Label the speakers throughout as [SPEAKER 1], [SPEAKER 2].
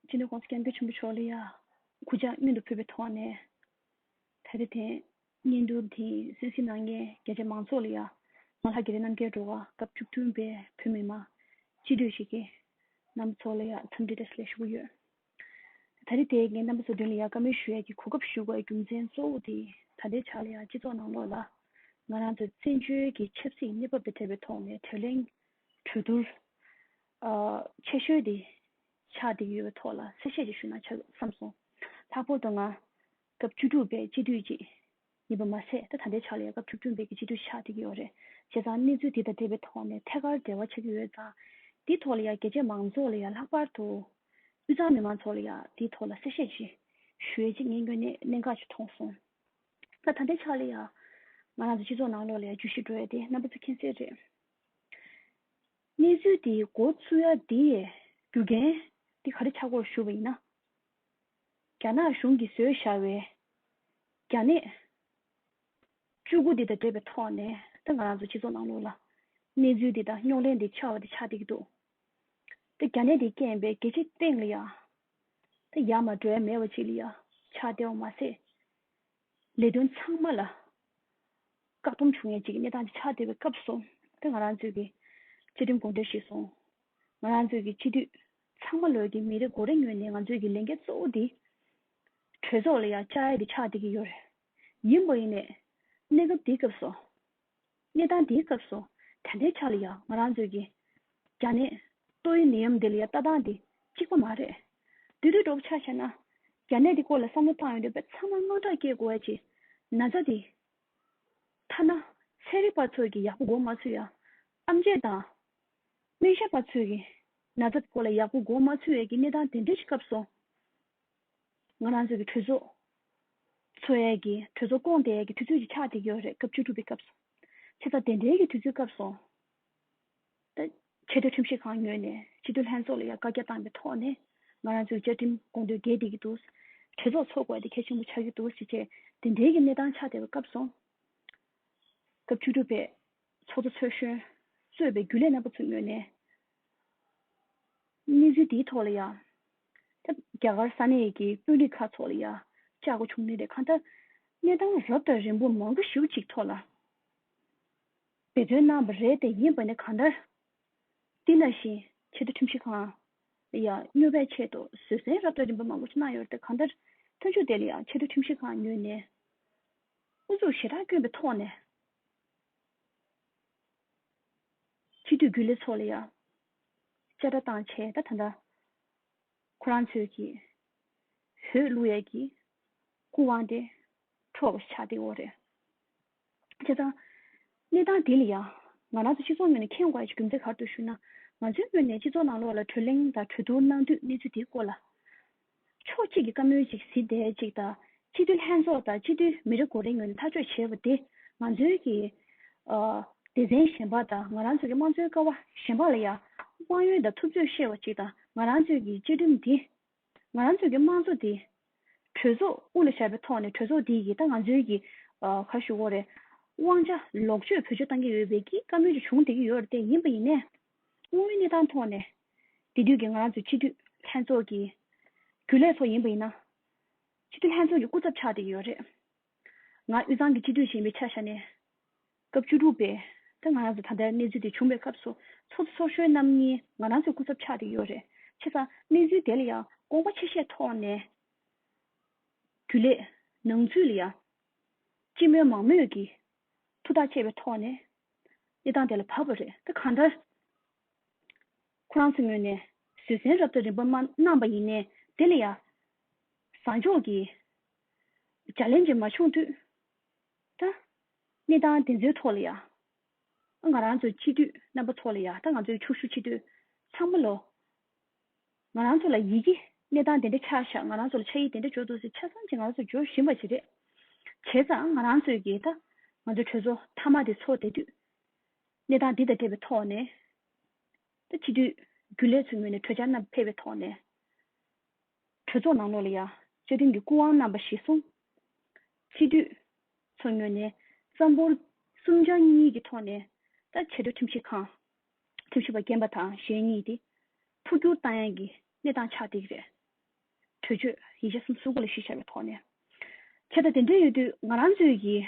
[SPEAKER 1] ཅི་ནས་དགོངས་སུ་སྐྱབས་འགྱུར་ཆེན་པོ་མཆོག་ལ་ཡང། གུ་ཅག་སྙུན་དུ་ཕུལ་བའི་ཐོག་ནས། ད་རེས་དེ། སྙན་དུ་དེ་སུད་སི་ནང་གི་རྒྱ་ཆེ་མང་ཚོགས་ལ་ཡང། ང་ལྷ་གི་རེ་རྣམ་རྒྱལ་འགྲོ་བ་སྐབས་བཅུ་བདུན་པའི་བོད་མི་མང། སྤྱི་འཐུས་ཤིག་གི། རྣམ་པ་ཚོ་ལ་ཡང་འཚམས་འདྲི་བཀྲ་ཤིས་ལན་ཞུ་གི་ཡོད། ད་རེས་དེ་གའི་རྣམ་པ་ཚོ་མདུན་ལ་ཡང་བཀའ་མོལ་ཞུ་ཡས་ཀྱི་གོ་སྐབས་ཞུ་བའི་རྒྱུ་མཚན་གཙོ་བོ་དེ་ད་ལྟའི་ཆར་ལ་ཡང་སྤྱི་ཚོགས་ནང་ལོགས་ལ། ང་རང་ཚོའི་བཙན་བྱོལ་གྱི་ཆབ་སྲིད་གནས་བབ་དང་འབྲེལ་བའི་ཐོག་ནས་དྲིས་ལན། གྲོས་བསྡུར་ཆེ་ཤོས་དེ་ཆགས་བསྡད་ཡོད་པའི་ཐོག་ལ་གསལ་བཤད་ཅིག་ཞུ་ན་ཆོག་བསམ་སོང། ལྷག་པོར་དུ་ང་སྐབས་བཅུ་དྲུག་པའི་སྤྱི་འཐུས་ཅིག་ཡིན་པ་མ་ཟད་ད་ད་ལྟའི་ཆ་ལ་ཡང་སྐབས་བཅུ་བདུན་པའི་སྤྱི་འཐུས་ཆགས་བསྡད་ཀྱི་ཡོད་རེད། བྱས་ཙང་གནས་ཚུལ་དེ་དང་འབྲེལ་བའི་ཐོག་ནས་ཐད་ཀར་འབྲེལ་བ་ཆགས་ཀྱི་ཡོད་ཙང། དེའི་ཐོག་ལ་ཡང་རྒྱལ་གཅེས་མང་ཚོགས་ལ་ཡང་ལྷག་པར་དུ་དབུས་གཙང་མི་མང་ཚོགས་ལ་ཡང་དེའི་ཐོག་ལ་གསལ་བཤད་ཅིག་ཞུ་ཡས་ཅིག་ངས་སྔོན་ནས་གནད་འགག་ཅིག་མཐོང་སོང། ད་ད་ལྟའི་ཆ་ལ་ཡང་ང་རང་ཚོའི་སྤྱི་ཚོགས་ནང་ལོགས་ལ་ཡང་བརྗོད་གཞི་འགྲོ་ཡས་དེ་རྣམ་པ་ཚོ་མཁྱེན་གསལ་རེད། གནས་ཚུལ་འདིའི་མགོ་བཙུགས་ཡ་འདི་ཡི་རྒྱུ་རྐྱེན་འདི་ག་རེ་ཆགས་སྐོར་ཞུ་བ་ཡིན་ན། རྒྱ་ནག་གཞུང་གིས་བཟོས་བཞག་བའི་རྒྱ་ནད་བཅུ་དགུ་འདི་དང་འབྲེལ་བའི་ཐོག་ནས་ད་ང་རང་ཚོ་སྤྱི་ཚོགས་ནང་ལོགས་ལ་གནས་ཚུལ་འདི་དང་རྙོག་གླེང་འདི་ཆགས་བ་དེ་ཆགས་བསྡད་ཀྱི་འདུག་ད་རྒྱ་ནད་འདིའི་རྐྱེན་པས་རྒྱལ་སྤྱིའི་སྟེང་ལ་ཡང་ད་ཡ་མ་བྲལ་མེད་པ་ཅིག་ལ་ཡང་ཆགས་བསྡད་བ་མ་ཟད། ལས་དོན་ཚང་མ་ལ་བཀག་སྡོམ་བྱུང་ཡན་ཅིག་གི་གནས་སྟངས་ཆགས་བསྡད་པའི་སྐབས་སོ། དེ་ང་རང་ཚོས་ཀྱི་བཅའ་ཁྲིམས་དགོངས་དོན་ཞིག་སོང། ང་རང་ཚོས་ཀྱི་སྤྱི་འཐུས་ཚང་མ་ལོས་ཀྱི་མི་རེ་འགོ་རེ་ངོས་ནས་ང་ཚོས་ཀྱི་ལས་འགན་གཙོ་བོ་འདི། གྲོས་ཚོགས་ལ་ཡང་བཅར་ཡས་དེ་ཆགས་བསྡད་ཀྱི་ཡོད་རེད། ཡིན་པ་ཡིན་ནས་གནས་སྐབས་འདིའི་སྐབས་སོ། གནས་སྟངས་འདིའི་སྐབས་སུ་དེ་འདྲའི་ཆ་ལ་ཡང་ང་རང་ཚོས་ཀྱི། རྒྱ་ནད། ལྟོ་ཡི་ནད་ཡམས་འདི་ལ་ཡང་ལྟ་སྟངས་འདི་གཅིག་པ་མ་རེད། དུས་དུས་གྲོགས་ཆ་བྱས་ན། རྒྱ་ནད་འདི་སྐོར་ལ་བསམ་བློ་བཏང་ཡོང་འདོད་པའི་ཚང་མ་དངངས་སྐྲག་སྐྱེ་དགོས་བ་ཅི། ན་ཚ་འདི། ཐ་ན། ཚན་རིག་པ་ཚོས་ཀྱི་ཡག་པོ་གོ་མ་ཚུལ་ཡང། ཨམ་བཅས་དང། སྨན་ཞབས་པ་ཚོས་ཀྱི། ན་ཚ་འདི་སྐོར་ལ་ཡག་པོ་གོ་མ་ཚུལ་བས་ཀྱི་གནས་སྟངས་དེ་འདྲའི་སྐབས་སུ། ང་རང་ཚོའི་གི་གྲོས་ཚོགས། ཚོ་ཡས་གི་གྲོས་ཚོགས་སྐོང་དེ་ཡས་གི་དུས་ཚོད་ཅིག་ཆགས་བསྡད་ཀྱི་ཡོད་རེད་སྐབས་བཅུ་དྲུག་པའི་སྐབས་སུ། ཕྱི་ཟླ་དེ་འདྲའི་གི་དུས་ཚོད་སྐབས་སུ། ཆེ་མཐོའི་ཁྲིམས་ཞིབ་ཁང་ཉོས་ནས་སྤྱི་འཐུས་ལྷན་ཚོགས་ལ་ཡང་བཀའ་རྒྱ་བཏང་པའི་ཐོག་ནས་ང་རང་ཚོའི་གི་བཅའ་ཁྲིམས་དགོངས་དོན་འགལ་བསྡད་ཀྱི་འདུག་གྲོས་ཚོགས་ཚོགས་དགོས་དེ་གལ་ཆེན་པོ་ཆགས་ཀྱི་འདུག་ཞེས་བཅས་དེ་འདྲའི་གི་གནས་སྟངས་ཆགས་བསྡད་པའི་སྐབས་སུ། སྐབས་བཅུ་དྲུག་པའི་ཚོགས་གཙོ་ཚོས་གཞོན་གཙོས་པའི་རྒྱུན་ལས་རྣམ་པ་ཚོ་ཉོས་ནས། གནས་ཚུལ་དེའི་ཐོག་ལ་ཡང། རྒྱ་གར་ས་གནས་ཀྱི་དཔོན་རིགས་ཁག་ཚོགས་ལ་ཡང་བཅར་དགོས་བྱུང་མེད་པའི་ཁར། གནས་སྟངས་རབ་དང་རིམ་པོ་མང་པོ་ཞིག་ཅིག་ཐོག་ལ་འབད་བརྩོན་གནང་བ་རེད་དེ་ཡིན་པ་ནི་གང་ལྟར། འདི་ནང་བཞིན་ཆེ་མཐོ་ཁྲིམས་ཞིབ་ཁང་ལ་ཡང་སྙོལ་བའི་ཆེད་དུ་བཟོད་བསྲན་རབ་དང་རིམ་པ་མང་པོ་ཅིག་གནང་ཡོད་རེད་དེ་གང་ལྟར། མཐུན་ཕྱོགས་དེ་ལ་ཡང་ཆེ་མཐོ་ཁྲིམས་ཞིབ་ཁང་ཉོས་ནས། ཨུ་ཚུགས་ཞེ་དྲག་བསྐྱོན་པའི་ཐོག་ནས། ཕྱི་སྡོད་རྒྱུ་ལས་ཚོགས་ལ་ཡང། བཅད་ཁྲ་བཏང་བྱས་ད་ད་འདྲ། ཁོ་རང་ཚོས་ཀྱིས། བོད་ཀླུ་ཡས་ཀྱིས། སྐུ་དབང་དེ། འཕྲོག་པ་ཆགས་སྡེའོ་རེད། བྱས་ཙང། གནས་སྟངས་དེ་ལ་ཡང། ང་རང་ཚོ་སྤྱི་ཚོགས་ངོས་ནས་ཁྱེད་དགའ་ཞིག་རྒྱུ་མཚན་གར་དུ་ཞུ་ན། ང་ཚོའི་ངོས་ནས་སྤྱི་ཚོགས་ནང་ལོགས་ལ་གྲོས་གླེང་དང་གྲོས་བསྡུར་གནང་དུས་གནས་ཚུལ་དེའི་སྐོར་ལ། ཕྱོགས་གཅིག་གི་བཀའ་མོལ་གཅིག་གཟི་ལྡེ་གཅིག་དང་སྤྱི་འཐུས་ལྷན་ཚོགས་དང་སྤྱི་འཐུས་མི་རེ་འགོ་རེ་ངོས་ནས་ཐག་གཅོད་བྱེད་པ་དེ་ང་ཚོའི་གི་སྡེ་ཚན་གཞན་པ་དང་ང་རང་ཚོའི་གི་དམངས་གཙོའི་ཀ་བ་གཞན་པ་ལ་ཡང་དབང་ཡོད་དང་ཐུབ་ཚོད་བཤད་པ་ཅིག་དང་ང་རང་ཚོའི་གི་བཅའ་ཁྲིམས་དེ་ང་རང་ཚོའི་གི་དམངས་གཙོ་དེ་གྲོས་ཚོགས་དབུ་ལ་བཞག་པའི་ཐོག་ནས་གྲོས་ཚོགས་དེ་གི་ད་ང་ཚོའི་གི་ག་ཞུ་བོ་རེ་དབང་ཆ་ལོག་སྤྱོད་བོད་ཆོས་གཏང་གི་ཡོད་པའི་གི་བཀའ་མོལ་ཅིག་བྱུང་བསྡད་ཀྱི་ཡོད་རེ་བསྡད་ཡིན་པ་ཡིན་ནས་དངོས་ཡོད་གནས་སྟངས་ཐོག་ནས་དེ་དུས་ཀྱི་ང་རང་ཚོའི་སྤྱི་འཐུས་ལྷན་ཚོགས་ཀྱི་རྒྱུན་ལས་ཚོ་ཡིན་པ་ཡིན་ན། སྤྱི་འཐུས་ལྷན་ཚོགས་ཀྱི་སྐུ་ཚབ་ཆགས་ཏེ་ཡོད་རེད། ང་དབུས་གཙང་གི་སྤྱི་འཐུས་གཞན་པའི་ཆ་ཤ་ནས། སྐབས་བཅུ་དྲུག་པའི་ད་ང་རང་ཚོ་ད་ལྟར་གནས་ཚུལ་དེ་བྱུང་བའི་སྐབས་སུ་ཚོགས་གཙོ་ཚོགས་གཞོན་རྣམ་གཉིས་ང་རང་ཚོའི་སྐུ་ཚབ་ཆགས་ཏེ་ཡོད་རེད། ཆེ་ས་གནས་ཚུལ་དེ་ལ་ཡང་དགོངས་པ་ཆེ་ཤས་ཐོག་ནས། རྒྱུན་ལས་ནང་ཚུད་ལ་ཡང། སྤྱི་མོས་མང་མོས་ཀྱིས་ཐུགས་ཐག་བཅད་པའི་ཐོག་ནས། གནས་སྟངས་དེ་ལ་བབས་པ་རེད། ད་གང་ལྟར། ཁོ་རང་ཚོའི་ངོས་ནས་བཟོད་བསྲན་རབ་ཏུ་རིང་པོ་མ་གནང་བ་ཡིན། དེ་ལ་ཡང་བཟང་ཕྱོགས་ཀྱི་བྱ་ལན་ཅིག་མ་བྱུང་དུས་ད། གནས་སྟངས་དེ་ཚོའི་ཐོག་ལ་ཡང། ང་རང་ཚོ་སྤྱི་འཐུས་རྣམ་པ་ཚོ་ལ་ཡང་ད་ང་ཚོའི་ཕྱུག་ཤུ་ཆེ་དུས་ཚང་མ་ལོ། ང་རང་ཚོ་ལ་ཡིད་ཀྱི་གནས་སྟངས་དེ་འདྲ་ཆགས་ཤག་ང་རང་ཚོ་ལ་ཆ་ཡིད་དེ་འདྲ་འཇོག་འདུག་ཟེར་ཆ་བཟང་ཅིག་ང་རང་ཚོ་འཇོག་བཞིན་པ་ཞིག་རེད། བྱས་ཙང་ང་རང་ཚོས་ཀྱིས་ད་ང་ཚོའི་གྲོས་ཚོགས་མཐའ་མ་དེ་ཚོགས་བསྡད་དུས། གནས་སྟངས་འདི་དང་འབྲེལ་བའི་ཐོག་ནས། ད་ཕྱི་དུས་རྒྱུན་ལས་ཚོའི་ངོས་ནས་གྲོས་འཆར་རྣམས་ཕེབས་པའི་ཐོག་ནས། གྲོས་ཚོགས་ནང་ལོགས་ལ་ཡང་བཅའ་ཁྲིམས་ཀྱི་སྐུ་དབང་རྣམ་པ་བཞི་གསུམ། ཕྱི་དུས་ཚོའི་ངོས་ནས་རྩ་འབོར་གསུམ་ཆ་གཉིས་ཀྱི་ཐོག་ནས། ད་ཆེད་དུ་ཁྲིམས་ཞིབ་ཁང། ཁྲིམས་ཞིབ་པ་རྒན་པ་དང་གཞན་གཉིས་ཏེ། འཕོ་བསྒྱུར་བཏང་ཡན་གྱི་གནས་སྟངས་ཆགས་འགྲིག་རེད། གྲོས་ཆོད་ཡིག་ཆ་གསུམ་གསུང་སྐོར་ལ་གཞི་བཞག་པའི་ཐོག་ནས། ཁྱེད་ལྟ་དེ་འདྲ་ཡོད་དུས་ང་རང་ཚོའི་ཡི།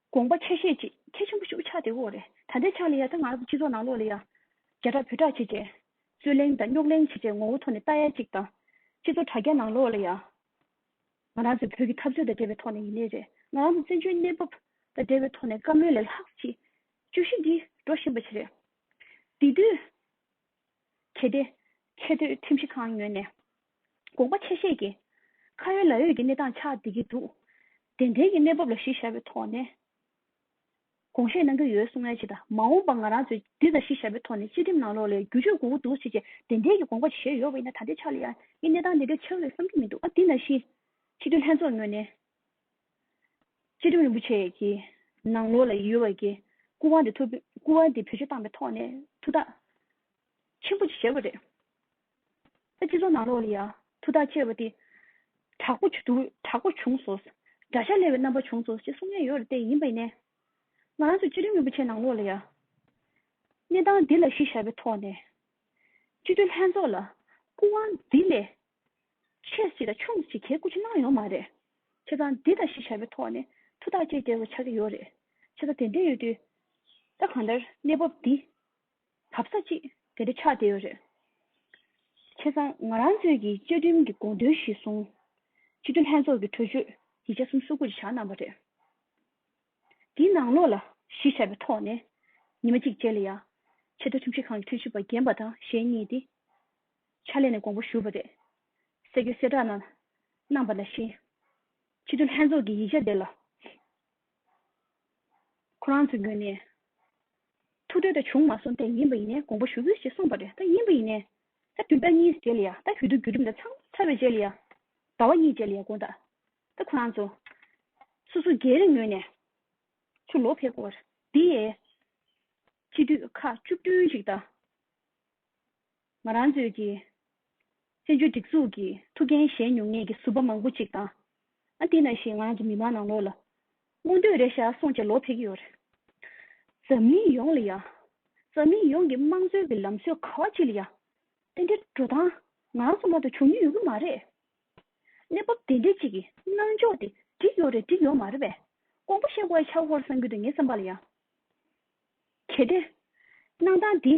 [SPEAKER 1] དགོངས་པ་ཆ་ཤས་གཅིག་ཁྱེད་ཆེན་པོ་ཤུགས་ཆགས་དེ་འོ་རེད་ད་ལྟའི་ཆ་ལ་ཡ་ད་ང་རང་ཚོ་སྤྱི་ཚོགས་ནང་ལོག་ལེ་ཡ། རྒྱ་གྲགས་བོད་གྲགས་བྱེད་ཅེས། རྩོད་གླེང་དང་རྙོག་གླེང་བྱེད་ཅེས་ངོ་བོ་ཐོག་ནས་ལྟ་ཡ་གཅིག་དང། སྤྱི་ཚོགས་དྲ་རྒྱ་ནང་ལོག་ལེ་ཡ། ང་རང་ཚོའི་བོད་ཀྱི་འཐབ་རྩོད་དང་འབྲེལ་བའི་ཐོག་ནས་ཡིན་ནི་རེད་ང་རང་ཚོ་བཙན་བྱོལ་གནས་བབ་དང་འབྲེལ་བའི་ཐོག་ནས་བཀའ་མོལ་ལས་ལྷག་ཅི། བཅུ་བཞི་འདི་འགྲོ་བཞིན་པ་ཞིག་རེད། དེ་དུས། གལ་ཏེ། ཆེས་མཐོའི་ཁྲིམས་ཞིབ་ཁང་ངོས་ནས་དགོངས་པ་ཆེ་བཞེས་ཀྱིས། ཁ་ཡོད་ལག་ཡོད་ཀྱི་གནས་སྟངས་ཆགས་བསྡད་ཀྱི་འདུག་དེ་འབྲེལ་གྱི་གནས་བབ་ལ་གཞི་བཞག་པའི་ཐོག་ནས་དགོངས་བཞེས་གནང་གི་ཡོད་གསུང་ཡ་ཆེ་ད་མ་འོངས་པ་ང་རང་ཚོས་འདི་ལ་གཞི་བཞག་པའི་ཐོག་ནས་སྤྱི་ཁྲིམས་ནང་ལོགས་ལས་བསྒྱུར་བཅོས་དགོས་ཀྱི་འདུག་ཅེས་བཅས་དེ་འབྲེལ་གྱི་དགོངས་པ་བཞེས་ཡོད་པ་ཡིན་ན་ད་ལྟའི་ཆར་ལ་ཡང་གནས་སྟངས་དེ་འདྲའི་ཆགས་ཡོད་བསམ་གྱི་མི་འདུག་ཨ་འདི་ནང་བཞིན། ཕྱི་དྲིལ་ལྷན་ཚོགས་ངོས་ནས། བཅས། བཅས་སྒྲུབ་རིན་པོ་ཆེ་ཀྱི་ནང་ལོགས་ལ་ཡུལ་བ་དགེ་སྐུ་དབང་དེ་ཐུབ། སྐུ་དབང་དེ་བེད་སྤྱོད་བཏང་པའི་ཐོག་ནས་ཐུགས་ཐག་ཆེན་པོ་བཅད་པ་རེད། ཨ་སྤྱི་ཚོགས་ནང་ལོགས་ལ་ཡང་ཐུགས་ཐག་བཅད་པ་དེ་དྲག་པོ་དྲག་པོ་བྱུང་སོང། དགྲ་ཤ་སླེ་བའི་རྣམ་པ་བྱུང་སོང་ཅེས་གསུངས་ཉེན་ཡོད་རེད་བལྟས་ཡིན་པ་ནས། ང་རང་ཚོས་བཅས་སྒྲུབ་རིན་པོ་ཆེ་ནང་ལོགས་ལ་ཡང་གནས་སྟངས་འདི་ལ་གཞི་བཞག་པའི་ཐོག་ནས། སྤྱི་འཐུས་ལྷན་ཚོགས་ལ་སྐུ་དབང་འདི་ལས་ཆོས་ཞིག་དང་ཆུང་དུ་ཞིག་གྱེར་སྐུ་ཕྱི་ནང་ཡོང་མ་རེད། ཁྱེད་རང་འདི་དང་ཞིག་བྱ་བའི་ཐོག་ནས་ཐུགས་ཐག་བཅད་གྱེར་བ་ཆགས་ཀྱི་ཡོད་རེད། ཁྱེད་རང་དེ་འདྲས་ཡོད་དུས། ད་གང་ལྟར་གནས་བབ་འདི། བབ་ས་ཅིག་དེ་འདྲས་ཆགས་བསྡད་ཡོད་རེད། ཁྱེད་རང་ང་རང་ཚོས་ཀྱི་བཅའ་ཁྲིམས་ཀྱི་དགོངས་དོན་གཞི་བཟུང། སྤྱི་འཐུས་ལྷན་ཚོགས་ཀྱི་གྲོས་ཆོད་ཡིག་ཆ་གསུམ་གསུ་སྐུ་རེ་བཞག་གནང་བ་རེད། འདིའི་ནང་ལོགས་ལ་གཞི་བྱ་བའི་ཐོག་ནས། ཉི་མ་གཅིག་རྗེས་ལ་ཡང། ཆེས་མཐོ་ཁྲིམས་ཞིབ་ཁང་གི་ཁྲིམས་ཞིབ་པ་རྒན་པ་དང་གཞན་གཉིས་ཏེ། ཕྱག་ལས་ནས་དགོངས་པ་ཞུ་བ་རེད། སྲས་ཀྱི་གསལ་བསྒྲགས་ནང་གནང་བ་ལ་བཞིན། ཕྱི་དྲོ་ལྷན་ཚོགས་ཀྱི་ཡིག་ཆ་དེ་ལ། ཁོ་རང་ཚོའི་ངོས་ནས། ཐུགས་འདོད་ད་བྱུང་མ་སོང་ཐད་ཡིན་པ་ཡིན་ནའི་དགོངས་པ་ཞུ་དགོས་ཞེས་གསུངས་པ་རེད་ད་ཡིན་པ་ཡིན་ནའི། ད་དུས་ཟླ་གཉིས་རྗེས་ལ་ཡང་ད་བོད་དུ་བརྒྱུད་རིམ་ལ་ཚང་མ་ཚར་བའི་རྗེས་ལ་ཡང། ཟླ་བ་གཉིས་རྗེས་ལ་ཡང་དགོངས་དག་ད་ཁོ་རང་ཚོ། སོ་སོ་སྒེར་རེ་ངོས་ནས། ཚུར་ལོག་ཕེབས་སྐོར་འདི་ཡི། སྤྱི་འཐུས་ཁག་བཅུ་བདུན་ཞིག་དང། ང་རང་ཚོའི་གི། བཙན་བྱོལ་སྒྲིག་འཛུགས་ཀྱི་ཐུགས་འགན་བཞེས་མྱོང་ངེས་ཀྱི་ཟུར་པ་མང་པོ་ཅིག་དང། ཨ་འདི་ན་ཞིག་ང་རང་ཚོ་མི་མང་ནང་ལོགས་ལ། མངོན་འདོད་རེ་བཞག་སོང་རྗེས་ལོག་ཕེབས་ཀྱི་ཡོད་རེད། འཛམ་གླིང་ཡོངས་ལ་ཡང། འཛམ་གླིང་ཡོངས་ཀྱི་དམངས་གཙོའི་གི་ལམ་སྲོལ་ག་བ་ཅིག་ལ་ཡང། དེ་འདྲའི་འགྲོ་སྟངས་ང་རང་ཚོ་མང་དུ་བྱུང་མྱོང་ཡོད་ཀྱི་མ་རེད། གནས་བབ་དེ་འདྲའི་ཅིག་གི་སྣང་འཇོག་དེ་འགྲིག་ཡོད་རེད་འགྲིག་ཡོད་མ་རེད་པས། ཀོང་པོ་ཤེས་ཀོའི་ཆག་ཧོར་སངས་རྒྱུད་དུ་ངའི་བསམ་པ་ལ་ཡང། གལ་ཏེ། གནང་སྟངས་འདི།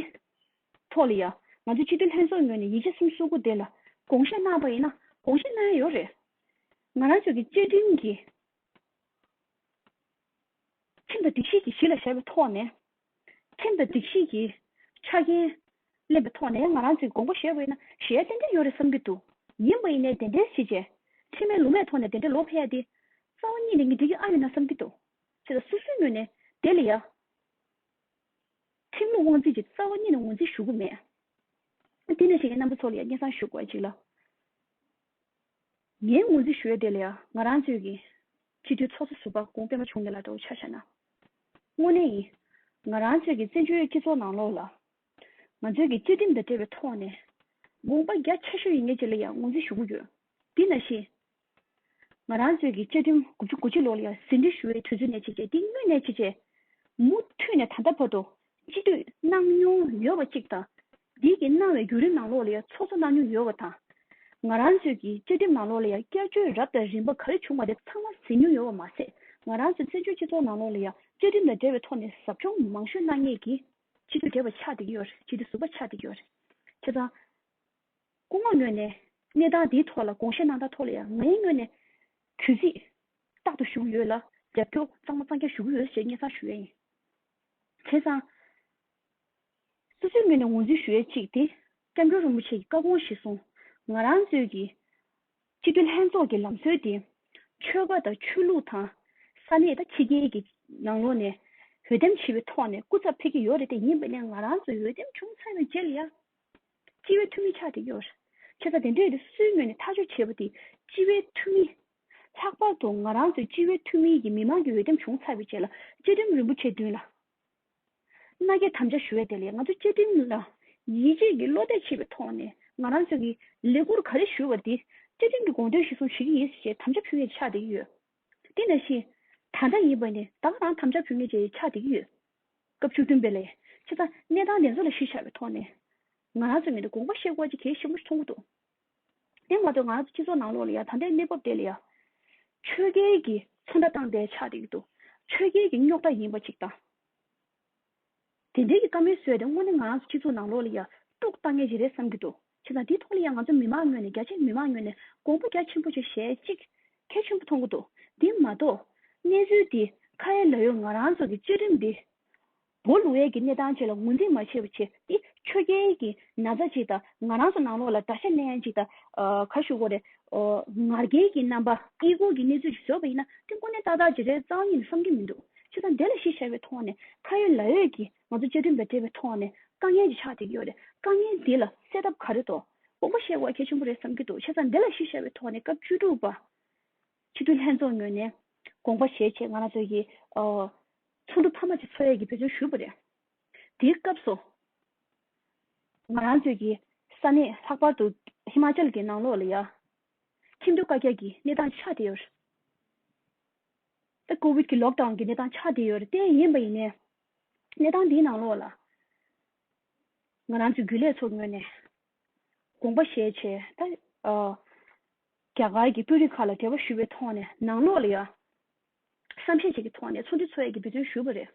[SPEAKER 1] ཐོག་ལ་ཡ། ང་ཚོ་སྤྱི་འཐུས་ལྷན་ཚོགས་ངོས་ནས་ཡིད་ཆེ་གསུམ་བསུ་དགོས་དེ་ལ་དགོངས་བཞེས་གནང་པ་ཡིན་ན་དགོངས་བཞེས་གནང་ཡ་ཡོད་རེད། ང་རང་ཚོས་ཀྱི་བཅའ་ཁྲིམས་ཀྱི། ཁྲིམས་དང་སྒྲིག་གཞི་གྱི་གཞི་ལ་བཞག་པའི་ཐོག་ནས། ཁྲིམས་དང་སྒྲིག་གཞི་གྱི། ཆ་རྐྱེན། ལེན་པའི་ཐོག་ནས་ང་རང་ཚོས་དགོངས་པ་བཞེས་པ་ཡིན་ན་བཞེས་ཡ་ཏན་ཏན་ཡོད་རེད་བསམ་གྱི་འདུག་ཡིན་པ་ཡིན་ནའི་དེ་འདྲའི་བཞེས་བྱས། ཁྲིམས་མེད་ལུགས་མེད་ཐོག་ནས་དེ་འདྲའི་ལོག་ཕེབས་ཡ་དེ། རྩ་བ་གཉིས་ནས་ངས་འགྲིག་གི་ཨ་ཡོད་ན་བསམ་གྱི་འདུག་ཅེས་ལ་སོ་སོའི་སྣོད་ནས་དེ་ལ་ཡ། ཁྲིམས་ལུགས་དབང་འཛིན་གྱི་རྩ་བ་གཉིས་ནི་ངོས་འཛིན་ཞུ་གི་མེད། དེ་ནས་ཞེས་ངའི་རྣམ་པ་ཚོ་ལ་ཡང་སྙན་གསང་ཞུ་དགོས་ཅིག་ལ། ངས་ངོས་འཛིན་ཞུ་ཡ་དེ་ལ་ཡ་ང་རང་ཚོས་ཀྱིས། སྤྱི་འཐུས་ཚོགས་གཙོ་ཟུར་པ་དགོངས་པས་མ་བྱུང་མེད་ལ་འདྲ་བོ་ཆགས་ཤག་ན། དངོས་གནས་ཡིན། ང་རང་ཚོས་ཀྱིས་བཙན་བྱོལ་སྤྱི་ཚོགས་ནང་ལོགས་ལ། ང་ཚོས་ཀྱིས་བཅའ་ཁྲིམས་དང་འབྲེལ་བའི་ཐོག་ནས། དགོངས་པ་རྒྱ་ཆེ་ཤོས་ཡིན་ངེས་ཅེས་ལ་ཡང་ངོས་འཛིན་ཞུ་གི་ཡོད། དེ་ན་ཞེས། ང་རང་ཚོས་ཀྱི་བཅའ་ཁྲིམས་དགུ་བཅུ་དགུ་བཅུ་ལོག་ལ་ཡང་ཟིན་བྲིས་ཞུ་བའི་དུས་ཚོད་ནས་བྱེད་ཆེད་སྡིགས་དམོད་ནས་བྱེད་ཆེད། མུ་མཐུད་ནས་ད་ལྟ་བར་དུ་སྤྱི་འཐུས་གནང་མྱོང་ཡོད་པ་གཅིག་དང། སྡིགས་ཀྱིས་གནང་བའི་བརྒྱུད་རིམ་ནང་ལོག་ལ་ཡང་ཚོགས་གཙོ་གནང་མྱོང་ཡོད་པ་དང། ང་རང་ཚོས་ཀྱི་བཅའ་ཁྲིམས་ནང་ལོག་ལ་ཡང་བསྐྱར་བཅོས་རབ་དང་རིམ་པ་ག་རེ་བྱུང་བ་དེ་ཚང་མ་ཟིན་མྱོང་ཡོད་པ་མ་ཟད་ང་རང་ཚོས་བཙན་བྱོལ་སྤྱི་ཚོགས་ནང་ལོག་ལ་ཡང་བཅའ་ཁྲིམས་དང་འབྲེལ་བའི་ཐོག་ནས་ཟབ་སྦྱོང་མང་ཤོས་གནང་ངེས་ཀྱི། སྤྱི་འཐུས་བགྲེས་པ་ཆགས་བསྡད་ཀྱི་ཡོད་རེད་སྤྱི་འཐུས་ཟུར་པ་ཆགས་བསྡད་ཀྱི་ཡོད་རེད། ཁྱེད་ཚང། སྐུ་ངོ་ངོས་ནས་གནས་སྟངས་འདིའི་ཐོག་ལ་དགོངས་བཞེས་གནང་དག་ཐོག་ལ་ཡང་ངའི་ངོས་ནས་གུས་བརྩི་རྟག་ཏུ་ཞུ་ཡོད་ལ་རྒྱབ་སྐྱོར་གཙང་མ་གཙང་རྒྱ་ཞུ་གི་ཡོད་ཅེས་སྙན་གསང་ཞུ་ཡས་ཡིན། བྱས་ཙང། སོ་སོའི་ངོས་ནས་ངོས་འཛིན་ཞུ་ཡས་གཅིག་དེ་སྐྱབས་མགོན་རིན་པོ་ཆེ་ཡི་བཀའ་དགོངས་གཞི་བཟུང་ང་རང་གཙོས་ཀྱི་སྤྱི་འཐུས་ལྷན་ཚོགས་ཀྱི་ལམ་སྲོལ་དེ་ཆོལ་ཁ་དང་ཆོས་ལུགས་དང་ས་གནས་དང་ཕྱི་རྒྱལ་གྱི་ནང་ལོགས་ནས་འོས་འདེམས་བྱས་པའི་ཐོག་ནས་སྐུ་ཚབ་ཕེབས་ཀྱི་ཡོད་རེད་དེ་ཡིན་པ་ནས་ང་རང་ཚོའི་འོས་འདེམས་བྱུང་ཚར་བའི་རྗེས་ལ་ཡང། སྤྱི་བའི་འཐུས་མི་ཆགས་ཏེ་གཡོར། ཁྱོད་ཚ་དེ་འདྲས་དེ་སུའི་ངོས་ནས་ཐག་གཅོད་བྱེད་པ་དེ་སྤྱི་བའི་འཐུས་མི། ལྷག་པར་དུ་ང་རང་ཚོའི་སྤྱི་བའི་འཐུས་མི་ཡིད་ཀྱི་མི་མང་གི་འོས་འདེམས་བྱུང་ཚར་བའི་རྗེས་ལ་བཅའ་ཁྲིམས་རིན་པོ་ཆེ་བདུན་ལ་མནའ་སྐྱེལ་དམ་བཅའ་ཞུ་བའི་དེ་ལས་ང་ཚོ་བཅའ་ཁྲིམས་ལ་ཡིད་ཆེས་ཀྱིས་བློ་གཏད་བྱེད་པའི་ཐོག་ནས་ང་རང་ཚོས་ཀྱིས་ལས་འཁུར་ག་རེ་ཞུ་བ་དེ་བཅའ་ཁྲིམས་ཀྱི་དགོངས་དོན་གཞི་བཟུང་བྱེད་ཀྱི་ཡིན་ཟེར་བཞིན་དམ་བཅའ་ཕུལ་མཁན་ཆགས་ཏེ་ཡོད། འདི་འདྲ་ཞིག། ད་ལྟ་ཡིན་པ་ནི་ད་ག་རང་དམ་བཅའ་བུད་མེད་ཅིག་ཆགས་བསྡད་ཀྱི་ཡོད། སྐབས་བཅུ་བདུན་པའི་ལས་བྱེད་ཚང་གནས་སྟངས་དེ་ཚོ་ལ་གཞིར་བཞག་པའི་ཐོག་ནས། ང་རང་ཚོའི་ངོས་ནས་དགོངས་པ་བཞེས་དགོས་ཀྱི་གལ་ཆེན་པོ་ཞིག་མཐོང་གི་འདུག་དེ་མ་གཏོགས་ང་རང་ཚོའི་སྤྱི་ཚོགས་ནང་ལོགས་ལ་ཡང་ད་ལྟའི་གནས་བབ་དེ་ལ་ཡང། ཆོས་རྒྱལ་གྱིས་ཚོང་ར་བཏང་སྟེ་ཆགས་བསྡད་ཀྱི་འདུག་ཆོས་རྒྱལ་གྱི་རྙོག་དྲ་ཡིན་པ་ཅིག་དང། དེ་འབྲེལ་གྱི་བཀའ་མོལ་བཟོས་ཏེ་དངོས་གནས་ང་རང་ཚོ་སྤྱི་ཚོགས་ནང་ལོགས་ལ་ཡར་དཀྲུགས་བཏང་ངེས་ཅི་རེད་བསམ་གྱི་འདུག་བྱས་ཙང་དེའི་ཐོག་ལ་ཡང་ང་ཚོ་མི་མང་ངོས་ནས་རྒྱ་ཆེ་མི་མང་ངོས་ནས་དགོངས་པ་རྒྱ་ཆེན་པོ་ཞིག་བཞེས་ཅིག་གལ་ཆེན་པོ་མཐོང་གི་འདུག་དེ་མ་གཏོགས། གནས་ཚུལ་འདི་ཁ་ཡ་ལ་ཡོད་ང་རང་ཚོ་གི་བཅའ་ཁྲིམས་འདི། བོ་ལུ་ཝེ་གི་གནས་སྟངས་བཅས་ལ་ངོས་འཛིན་མ་བྱས་པ་བྱས་ཏེ་ཆོས་རྒྱལ་གྱི་ན་ཚ་ཅིག་དང་ང་རང་ཚོ་ནང་ལོགས་ལ་དགྲ་ཤ་ལན་ཅིག་དང་ག་ཞུ་གོ་རེ་ང་རྒྱལ་གྱི་རྣམ་པ་དབྱེ་སྒོག་གི་གནས་ཚུལ་ཞིག་བཟོས་པ་ཡིན་ན་དེ་ཀུན་ནས་ཏག་ཏག་བརྗེ་རེས་གཙང་ཡིན་བསམ་གྱི་མི་འདུག་ཁྱེད་ཚང་དེ་ལ་གཞི་བཞག་པའི་ཐོག་ནས་ཁ་ཡོད་ལག་ཡོད་ཀྱིས་ང་ཚོ་བཅའ་ཁྲིམས་དང་འབྲེལ་བའི་ཐོག་ནས་དཀའ་ངལ་གྱི་ཆགས་འདེགས་ཡོད་རེད་དཀའ་ངལ་འདི་ལ་སེལ་ཐབས་ག་རེ་འདུག་དགོངས་པ་བཞེས་དགོས་གལ་ཆེན་པོ་རེད་བསམ་གྱི་འདུག་ཁྱེད་ཚང་དེ་ལ་གཞི་བཞག་པའི་ཐོག་ནས་སྐབས་བཅུ་དྲུག་པ་སྤྱི་འཐུས་ལྷན་ཚོགས་ངོས་ནས་དགོངས་པ་བཞེས་ཆེད་ང་རང་ཚོ་ཡི་ཚོགས་འདུ་མཐའ་མ་གཅིག་འཚོགས་ཡས་ཀྱི་འབད་བརྩོན་ཞུས་པ་རེད་དེའི་སྐབས་སུ། ང་རང་ཚོའི་གི་ས་གནས་ལྷག་པར་དུ་ཧི་མཱ་ཅལ་གྱི་ནང་ལོགས་ལ་ཡ། ཁྱིམ་དུ་བཀའ་རྒྱ་གི་གནས་སྟངས་ཆགས་བསྡད་ཡོད། ད་ཀོ་བིད་ཀྱི་ལོག་ཏའུ་གི་གནས་སྟངས་ཆགས་བསྡད་ཡོད་རྟེན་ཡིན་པ་ཡིན་ནའི། གནས་སྟངས་འདིའི་ནང་ལོགས་ལ། ང་རང་ཚོའི་རྒྱུན་ལས་ཚོར་ངོས་ནས་དགོངས་པ་བཞེས་ཆེད་ད། རྒྱ་གར་གྱི་དཔོན་རིགས་ཁག་ལ་འབྲེལ་བ་ཞུ་བའི་ཐོག་ནས་ནང་ལོགས་ལ་ཡ། བསམ་ཤེས་བྱེད་ཀྱི་ཐོག་ནས་ཚོགས་འདུ་འཚོགས་ཡས་ཀྱི་འབུད་བརྩོན་ཞུས་པ་རེད།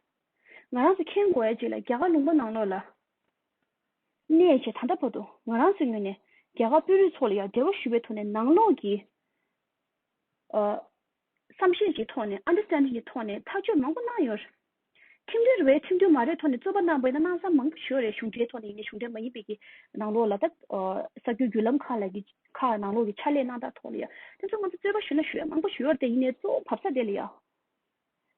[SPEAKER 1] ང་རང་ཚོ་མཁྱེན་དགོས་ཅེས་ལ་རྒྱ་གར་ལུང་པ་ནང་ལོགས་ལ་གནས་ཞེས་ད་ལྟ་བར་དུ་ང་རང་ཚོའི་ངོས་ནས་རྒྱ་གར་དཔོན་རིགས་ཚོ་ལ་ཡང་འབྲེལ་བ་ཞུ་བའི་ཐོག་ནས་ནང་ལོགས་ཀྱི་བསམ་ཤེས་ཀྱི་ཐོག་ནས Understanding གྱི་ཐོག་ནས་ཐག་གཅོད་མང་པོ་གནང་ཡོད། ཁྲིམས་མཐུན་རེད་ཁྲིམས་མཐུན་མ་རེད་ཐོག་ནས་རྩོད་པ་གནང་པའི་ན་གནང་ས་མང་པོ་བྱོས་རེད་གཞུང་འབྲེལ་ཐོག་ནས་ཡིན་ནས་གཞུང་འབྲེལ་མ་ཡིན་པའི་ནང་ལོགས་ལ་ད་གསར་འགྱུར་བརྒྱུད་ལམ་ཁག་ལ་ཡི་ཁག་ནང་ལོགས་ཀྱི་ཕྱག་ལས་གནང་སྟངས་ཐོག་ལ་ཡང་དེ་ཚོ་ང་ཚོ་རྩོད་པ་ཞུ་ན་ཞུ་ཡ་མང་པོ་ཞུ་ཡོད་དེ་ཡིན་ནས་གཙོ་བོ་བབས་ས་དེ་ལ་ཡང་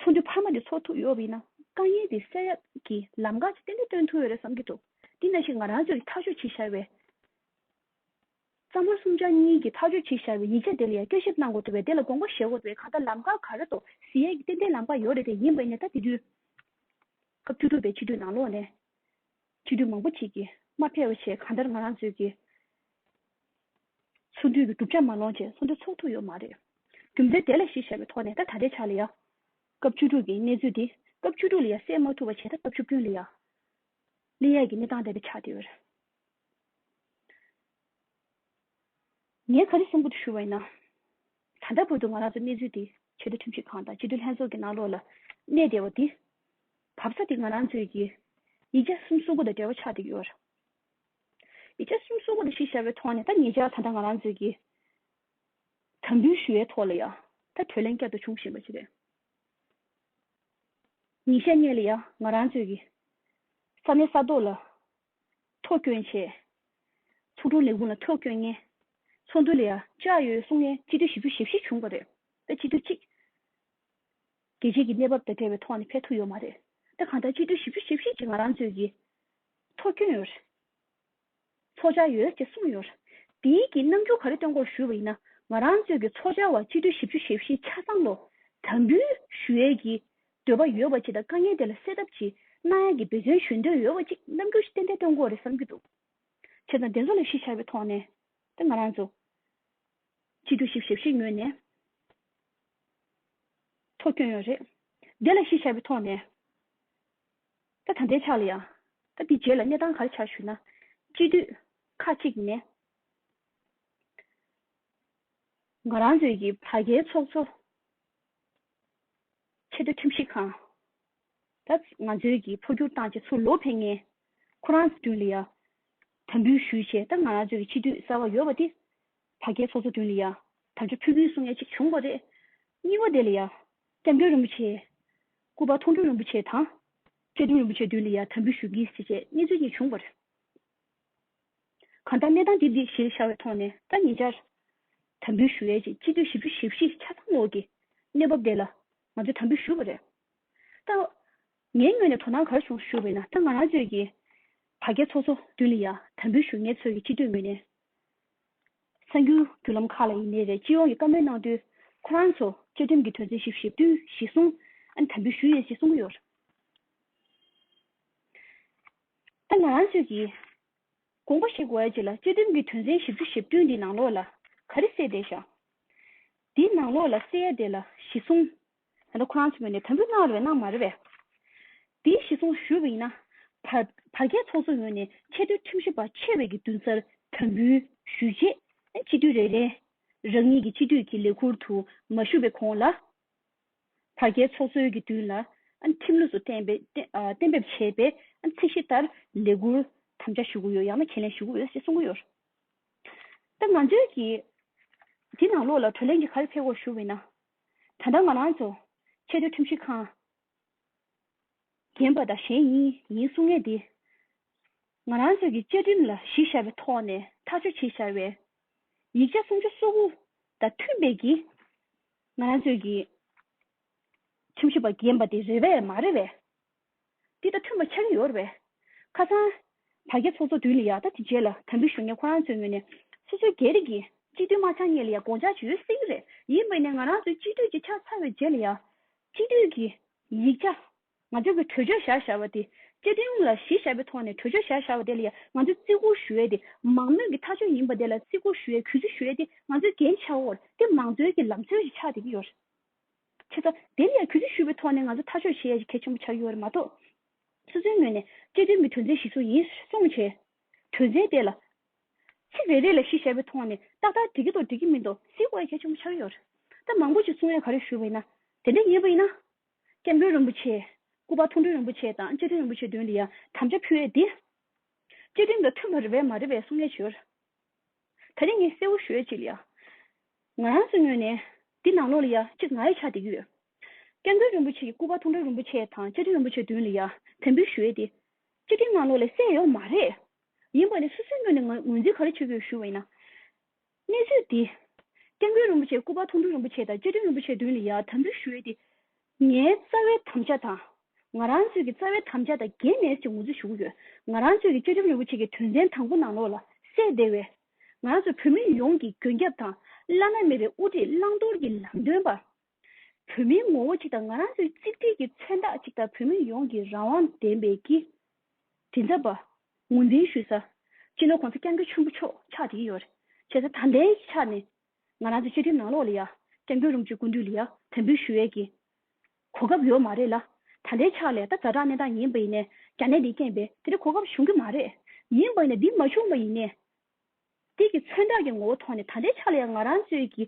[SPEAKER 1] ཚོགས་འདུའི་འཕར་མ་དེ་ཚོགས་ཐུབ་ཡོད་པ་ཡིན་ན་དཀའ་ངལ་དེ་སེལ་ཡག་གི་ལམ་ཁ་ཅིག་ཏན་ཏན་སྟོན་ཐུབ་ཡོད་རེད་བསམ་གྱི་འདུག་འདི་ན་ཞིག་ང་རང་ཚོས་ཐག་གཅོད་བྱེད་བཞག་པའི། རྩ་དམར་གསུམ་ཆ་གཉིས་ཀྱིས་ཐག་གཅོད་བྱེད་བཞག་པའི་ཡིག་ཆ་དེ་ལ་ཡང་སྐྱོན་ཞིབ་གནང་དགོས་འདུག་བས་དེ་ལ་དགོངས་པ་བཞེས་དགོས་འདུག་བས་གང་ལྟར་ལམ་ཁ་ག་རེ་དོ་བཟི་ཡག་གི་ཏན་ཏན་ལམ་ཁ་ཡོད་རེད་དེ་ཡིན་པས་ནས་ད་དེ་དུས་སྐབས་བཅུ་དྲུག་པའི་ཕྱི་དྲོའི་ནང་ལོགས་ནས། ཕྱི་དྲོའི་མང་པོ་ཞིག་གིས་མ་ཕེར་བ་བྱས་གང་ལྟར་ང་རང་ཚོས་ཀྱིས། ཚུར་འདུས་པའི་གྲུབ་ཆ་མ་ལོངས་རྗེས་སུ་འདྲ་ཚུགས་ཐུབ་ཡོད་མ་རེད། རྒྱུ་མཚན་དེ་ལ་གཞིར་བཞག་པའི་ཐོག་ནས་ད་ད་ལྟའི་ཆར་ལི་ཡ། སྐབས་བཅུ་དྲུག་གི་གནས་ཚུལ་འདི་སྐབས་བཅུ་དྲུག་ལི་ཡ་སེལ་མ་ཐུབ་པ་བྱས་ད་སྐབས་བཅུ་བདུན་ལི་ཡ། ལི་ཡ་གི་གནས་སྟངས་འདས་པའི་ཆ་དེ་འོད། ངས་ག་རེ་གསུང་གི་འདུག་ཞུ་བ་ཡིན་ན། ད་ལྟ་བར་དུ་ང་རང་ཚོ་གནས་ཚུལ་འདི་ཆེད་དུ་ཁྲིམས་ཞིབ་ཁང་དང་སྤྱི་འཐུས་ལྷན་ཚོགས་ཀྱི་ནང་ལོགས་ལ་གནས་བསྡད་པ་འདི། བབས་ས་དེ་ང་རང་ཚོའི་ཡིག་ཆ་གསུམ་གསུང་གི་དང་འབྲེལ་བ་ཆགས་འདུག་ཡོད། ཡིག་ཆ་གསུམ་གསུམ་པོ་དེ་ཤེས་བྱ་བའི་ཐོག་ནས་ད་ངེད་ཅག་ད་ལྟ་ང་རང་ཚོས་ཀྱི་དམ་འབུལ་ཞུ་བའི་ཐོག་ལ་ཡང་ད་གྲོས་གླེང་བསྐྱར་དུ་བྱུང་བཞིན་པ་ཞིག་རེད། ཉིན་ཤས་གནས་ལ་ཡང་ང་རང་ཚོས་ཀྱི་ས་གནས་ས་ཐོག་ལ་ཐོག་སྐྱོན་ཆེ། ཚོགས་དྲུང་ལས་ཁུངས་ལ་ཐོག་སྐྱོན་ངན། ཚོགས་འདུ་ལ་ཡང་ལྕགས་ཡོལ་སོང་ནས་སྤྱི་འཐུས་བཞི་བཅུ་ཞེ་བཞི་བྱུང་བ་རེད། ད་སྤྱི་འཐུས་གཅིག་གལ་ཆེ་གི་གནས་བབ་དང་བྲལ་བའི་ཐོག་ནས་ཕེབས་ཐུབ་ཡོད་མ་རེད། ད་གང་ལྟར་སྤྱི་འཐུས་བཞི་བཅུ་ཞེ་བཞི་གཅིག་ང་རང་ཚོས་ཀྱི་ཐོ་བསྐྱོན་ཡོད། ཚོགས་བཅར་ཡོད་ཅེས་གསུངས་ཡོད། འདིའི་གི་རྣམ་འགྱུར་ག་རེ་སྟོན་སྐོར་ཞུས་པ་ཡིན་ན། ང་རང་གཙོས་ཀྱི་ཚོགས་བཅར་བ་སྤྱི་འཐུས་བཞི་བཅུ་ཞེ་བཞི་ཆ་ཚང་ལོ་དམ་འབུལ་ཞུ་ཡས་ཀྱི་འདོད་པ་ཡོད་པ་ཅིག་དང་དཀའ་ངལ་དེ་ལ་སེལ་ཐབས་ཀྱི་གནང་ཡས་ཀྱི་འབད་བརྩོན་ཞུ་འདོད་ཡོད་པ་ཅིག་རྣམ་འགྱུར་ཏན་ཏན་སྟོན་སྐོར་རེ་བསམ་གྱི་འདུག་བྱས་ཙང་དེ་ཚོ་ལ་གཞི་བཞག་པའི་ཐོག་ནས་ད་ང་རང་གཙོས་སྤྱི་འཐུས་བཞི་ཞེ་བཞི་ངོས་ནས་ཐོ་བསྐྱོན་ཡོད་རེད། དེ་ལ་གཞི་བཞག་པའི་ཐོག་ནས། ད་ད་ལྟའི་ཆ་ལ་ཡང། ད་འདི་རྗེས་ལ་གནས་སྟངས་ག་རེ་ཆགས་ཞུས་ན། དཔྱིད་དུས། ཁ་གཅིག་ནས། ང་རང་ཚོའི་གི་བ་རྒན་ཚོགས་གཙོ། ཆེ་མཐོ་ཁྲིམས་ཞིབ་ཁང། ད་ང་ཚོའི་གི་འཕོ་འགྱུར་བཏང་རྗེས་ཚུར་ལོག་ཕེབས་ངེས། ཁོ་རང་ཚོའི་ལ་ཡ། དམ་འབུལ་ཞུས་རྗེས་ད་ང་རང་ཚོའི་གི་དཔྱིད་དུས་གསར་བ་ཡོལ་བ་དེ། བ་རྒན་ཚོགས་གཙོ་ལ་ཡ། དམ་བཅའ་ཕུལ་གྱིན་སོང་ངེས་ཅིག་བྱུང་བ་རེད། གཉིས་བ་དེ་ལ་ཡ། སྐྱབས་མགོན་རིན་པོ་ཆེའི། སྐུ་པར་མཐོང་གྲོལ་རིན་པོ་ཆེ་དང། བཀྲས་མཐོང་རིན་པོ་ཆེ་མདུན་ལ་ཡང་དམ་འབུལ་ཞུ་གིས་ཞེས་བཅས་གནས་ཚུལ་གཉིས་བྱུང་བར། གང་ལྟར་གནས་སྟངས་འདི་འདི་ཞེས་བྱ་བའི་ཐོག་ནས་ད་ཉེ་ཆར། དམ་འབུལ་ཞུ་ཡས་ཀྱི་སྤྱི་འཐུས་བཞི་བཅུ་ཞེ་བཞི་ཆ་ཚང་ལོགས་ཀྱི་གནས་བབ་དེ་ལ་ང་ཚོས་དམ་འབུལ་ཞུས་པ་རེད། ད་ངའི་ངོས་ནས་དོ་སྣང་གར་བྱུང་ཞུས་པ་ཡིན་ན་ད་ང་རང་ཚོས་ཀྱི་བ་རྒྱ་ཚོགས་གཙོ་མདུན་ལ་ཡང་དམ་འབུལ་ཞུ་ངེད་ཚོས་ཀྱི་སྤྱི་འཐུས་མི་སྣའི་གསར་འགྱུར་བརྒྱུད་ལམ་ཁག་ལ་ཡིན་ནའི་རེད་སྤྱི་ཡོངས་ཀྱི་བཀའ་མོལ་གནང་དུས་ཁོ་རང་ཚོ་བཅའ་ཁྲིམས་ཀྱི་དོན་ཚན་བཞི་བཞི་བསྟུན་གཞི་བཟུང་ཨ་ནི་དམ་འབུལ་ཞུས་ཡོད་ཅེས་གསུངས་ཀྱི་ཡོད། ད་ང་རང་ཚོས་ཀྱིས་དགོངས་པ་བཞེས་དགོས་ཡ་ཅིག་ལ་བཅའ་ཁྲིམས་ཀྱི་དོན་ཚན་བཞི་བཅུ་བཞི་བསྟུན་འདི་ནང་ལོགས་ལ་ག་རེ་གསལ་བསྡད་བཞག་འདི་ནང་ལོགས་ལ་གསལ་ཡ་དེ་ལ་གཞི་བཟུང་ད་ལྟ་ཁོ་རང་ཚོའི་ངོས་ནས་དམ་འབུལ་གནང་རེ་བའི་གནང་མ་རེ་བའི། དེའི་གཞི་བཟུང་ཞུས་པ་ཡིན་ན། བར་བརྒལ་ཚོགས་གཙོ་ངོས་ནས་ཆེས་མཐོའི་ཁྲིམས་ཞིབ་པ་ཆེ་བས་ཀྱི་མདུན་སར་དམ་འབུལ་ཞུས་རྗེས། སྤྱི་འཐུས་རེ་རེས་རང་ཉིད་ཀྱི་སྤྱི་འཐུས་ཀྱི་ལས་ཁུར་དུ་མ་ཞུགས་པའི་གོང་ལ། བར་བརྒལ་ཚོགས་གཙོའི་གྱི་མདུན་ལ་ཁྲིམས་ལུགས་སུ་གཏན་འབེབས་བྱས་པའི་ཚད་གཞི་ལྟར་ལས་ཁུར་དམ་བཅའ་ཞུ་གི་ཡོད་ཡང་ན་ཁས་ལེན་ཞུ་གི་ཡོད་ཅེས་གསུང་གི་ཡོད། ད་ང་ཚོས་ཀྱིས་དེ་ནང་ལོགས་ལ་གྲོས་གླེང་གི་གར་ཕེབས་སྐོར་ཞུ་བ་ཡིན་ན། ད་ལྟ་ང་རང་ཚོ་ཆེས་མཐོའི་ཁྲིམས་ཞིབ་ཁང་རྒན་པ་དང་གཞན་ཡིན་ཡིན་གསུང་མཁན་དེ་ང་རང་ཚོ་གི་བཅའ་ཁྲིམས་ལ་གཞི་བཞག་པའི་ཐོག་ནས་ཐག་གཅོད་བྱེད་བཞག་པའི་ཡིག་ཆ་སུམ་ཅུ་སོ་དགུ་དང་མཐུན་པའི་གི་ང་རང་ཚོ་གི་ཁྲིམས་ཞིབ་པ་རྒན་པ་དེ་རེད་པས་མ་རེད་པས། འདི་ལྟ་མཐུན་པ་ཆགས་ཀྱི་ཡོད་རེད་པས། ཁ་སང། དྲ་རྒྱ་ཚོགས་གཙོ་བསྡུས་ནས་ཡག་ཐབས་དེ་བྱས་ལ་དམ་འབུལ་ཞུ་མཁན་ཁོ་རང་ཚོའི་ངོས་ནས། སོ་སོའི་རྒྱལ་རིགས་ཀྱི་གཅིག་སྡུད་མ་ཆགས་ངེས་ལ་ཡང་དགོངས་འཇགས་བྱེད་ཡོད་སྲིད་ཀྱི་རེད། ཡིན་པས་ནས་ང་རང་ཚོའི་གཅིག་སྡུད་ཅིག་ཆགས་ཚར་བའི་རྗེས་ལ་ཡང། གཅིག་སྡུད་ཀྱི་ཡིག་ཆ། ང་ཚོའི་གི་གྲོས་ཆོད་བཞག་བཞག་པ་དེ། བཅའ་ཁྲིམས་ལ་གཞི་བཞག་པའི་ཐོག་ནས་གྲོས་ཆོད་བཞག་བཞག་པ་དེ་ལ་ཡང་ང་ཚོས་བརྩི་བཀུར་ཞུ་ཡས་དེ། མང་མོས་ཀྱི་ཐག་གཅོད་ཡིན་པ་དེ་ལ་བརྩི་བཀུར་ཞུ་ཡས་གུས་བརྩི་ཞུ་ཡས་དེ་ང་ཚོའི་འགན་ཆེ་བོར་དེ་མང་གཙོའི་གྱི་ལམ་སྲོལ་ཞིག་ཆགས་བསྡད་ཀྱི་ཡོད་རེད། ཁྱེད་ཚོ། དེ་ནས་གུས་བརྩི་ཞུས་པའི་ཐོག་ནས་ང་ཚོ་ཐག་གཅོད་བྱེད་ཡ་ཞིག་གལ་ཆེན་པོ་ཆགས་ཡོད་པ་རེད་མ་གཏོགས། སོ་སོའི་ངོས་ནས། བཅའ་ཁྲིམས་ཀྱི་དོན་ཚན་བཞི་སོགས་ཡིན་གསུང་མ་བྱེད། དོན་ཚན་དེ་ལ། ཚིག་རེ་རེ་ལ་བཞི་བྱས་པའི་ཐོག་ནས་ཏག་ཏག་འགྲིག་གི་འདུག་འགྲིག་གི་མི་འདུག་གཟིགས་དགོས་ཡ་གལ་ཆེན་པོ་ཆགས་ཡོད་རེད། ད་མང་པོ་ཞིག་གསུང་ཡ་ག་རེ་ཞུས་པ་ཡིན་ན། དེ་འདྲ་ཡིན་པ་ཡིན་ན། སྐྱབས་མགོན་རིན་པོ་ཆེ། སྐུ་པར་མཐོང་གྲོལ་རིན་པོ་ཆེ་དང་བཅའ་ཁྲིམས་རིན་པོ་ཆེ་དོན་དེ་ཡང་དམ་བཅའ་ཕུལ་ཡ་དེ། བཅའ་ཁྲིམས་དང་མཐུན་པ་རེད་པས་མ་རེད་པའི་གསུང་ཡ་བྱོས། ད་རེས་ངས་གསལ་བོ་ཞུ་ཡ་གཅིག་ལ་ཡ། ང་རང་སུ་ཉོས་ནས། འདི་ནང་ལོགས་ལ་ཡ་གཅིག་ང་ཡི་ཆ་འདེགས་ཀྱི་ཡོད། སྐལ་མགོན་རིན་པོ་ཆེ་ཡི་སྐུ་པར་ཐུང་ཐུང་རིན་པོ་ཆེ་དང་བཅའ་ཁྲིམས་རིན་པོ་ཆེ་བདུན་ལ་ཡ་དེ་འབུལ་ཞུ་ཡ་དེ། བཅའ་ཁྲིམས་ནང་ལོགས་ལས་གསལ་ཡོད་མ་རེད། ཡིན་པ་ལས་སུ་སུས་ཉོས་ནས་ངོས་འཛིན་ག་རེ་བྱེད་དགོས་ཞུ་བ་ཡིན་ན། གནས་ཚུལ་འདི། སྐལ་མགོན་རིན་པོ་ཆེ་སྐུ་པར་ཐུང་ཐུང་རིན་པོ་ཆེ་དང་བཅའ་ཁྲིམས་རིན་པོ་ཆེ་བདུན་ལ་ཡ་དམ་འབུལ་ཞུ་ཡ་དེ། ངའི་རྩ་བའི་དམ་བཅའ་དང། ང་རང་ཚོས་ཀྱི་རྩ་བའི་དམ་བཅའ་དང་འགལ་མེད་ཅེས་ངོ་སྤྲོད་ཞུ་གི་ཡོད། ང་རང་ཚོས་ཀྱི་བཅའ་ཁྲིམས་རིན་པོ་ཆེ་ཀྱི་དོན་ཚན་དང་པོ་ནང་ལོགས་ལ་སད་བདེ་བའི། ང་རང་ཚོ་བོད་མི་ཡོངས་ཀྱི་མགོན་སྐྱབས་དང་བླ་ན་མེད་པའི་དབུ་ཁྲིད་བླང་དོར་གྱི་ལམ་སྟོན་པ། བོད་མིའི་ངོ་བོ་གཅིག་དང་ང་རང་ཚོའི་གཅིག་སྒྲིལ་གྱི་མཚོན་རྟགས་གཅིག་དང་བོད་མི་ཡོངས་ཀྱི་རང་དབང་བདེན་པའི་གི་མགྲིན་ཚབ་པ། ངོས་འཛིན་ཞུས་ས། སྤྱི་ནོར་གོང་ས་སྐྱབས་མགོན་ཆེན་པོ་མཆོག་ཕྱག་བྲིས་ཡོད། བྱས་ས་དང་ལེན་གྱི་ཆ་ནས་ང་རང་ཚོའི་བཅའ་ཁྲིམས་ནང་ལོགས་ལ་ཡ། བཀྲས་མགོན་རུང་ཆོས་སྐུ་འདུས་ལ་ཡ། དད་འབུལ་ཞུ་ཡས་ཀྱི། གོ་སྐབས་ཡོད་མ་རེད་ལ། ད་ལྟའི་ཆར་ལས་ད་རྩ་དྲང་གནས་སྟངས་ཡིན་པ་ཡིན་ནས་རྒྱ་ནད་འདི་རྐྱེན་པས་དེ་འདྲའི་གོ་སྐབས་བྱུང་གི་མ་རེད། ཡིན་པ་ཡིན་ན་འདི་མ་བྱུང་བ་ཡིན་ནས། དེ་གི་མཚོན་རྟགས་ཀྱི་ངོ་བོ་ཐོག་ནས་ད་ལྟའི་ཆར་ལ་ཡ་ང་རང་ཚོའི་གི།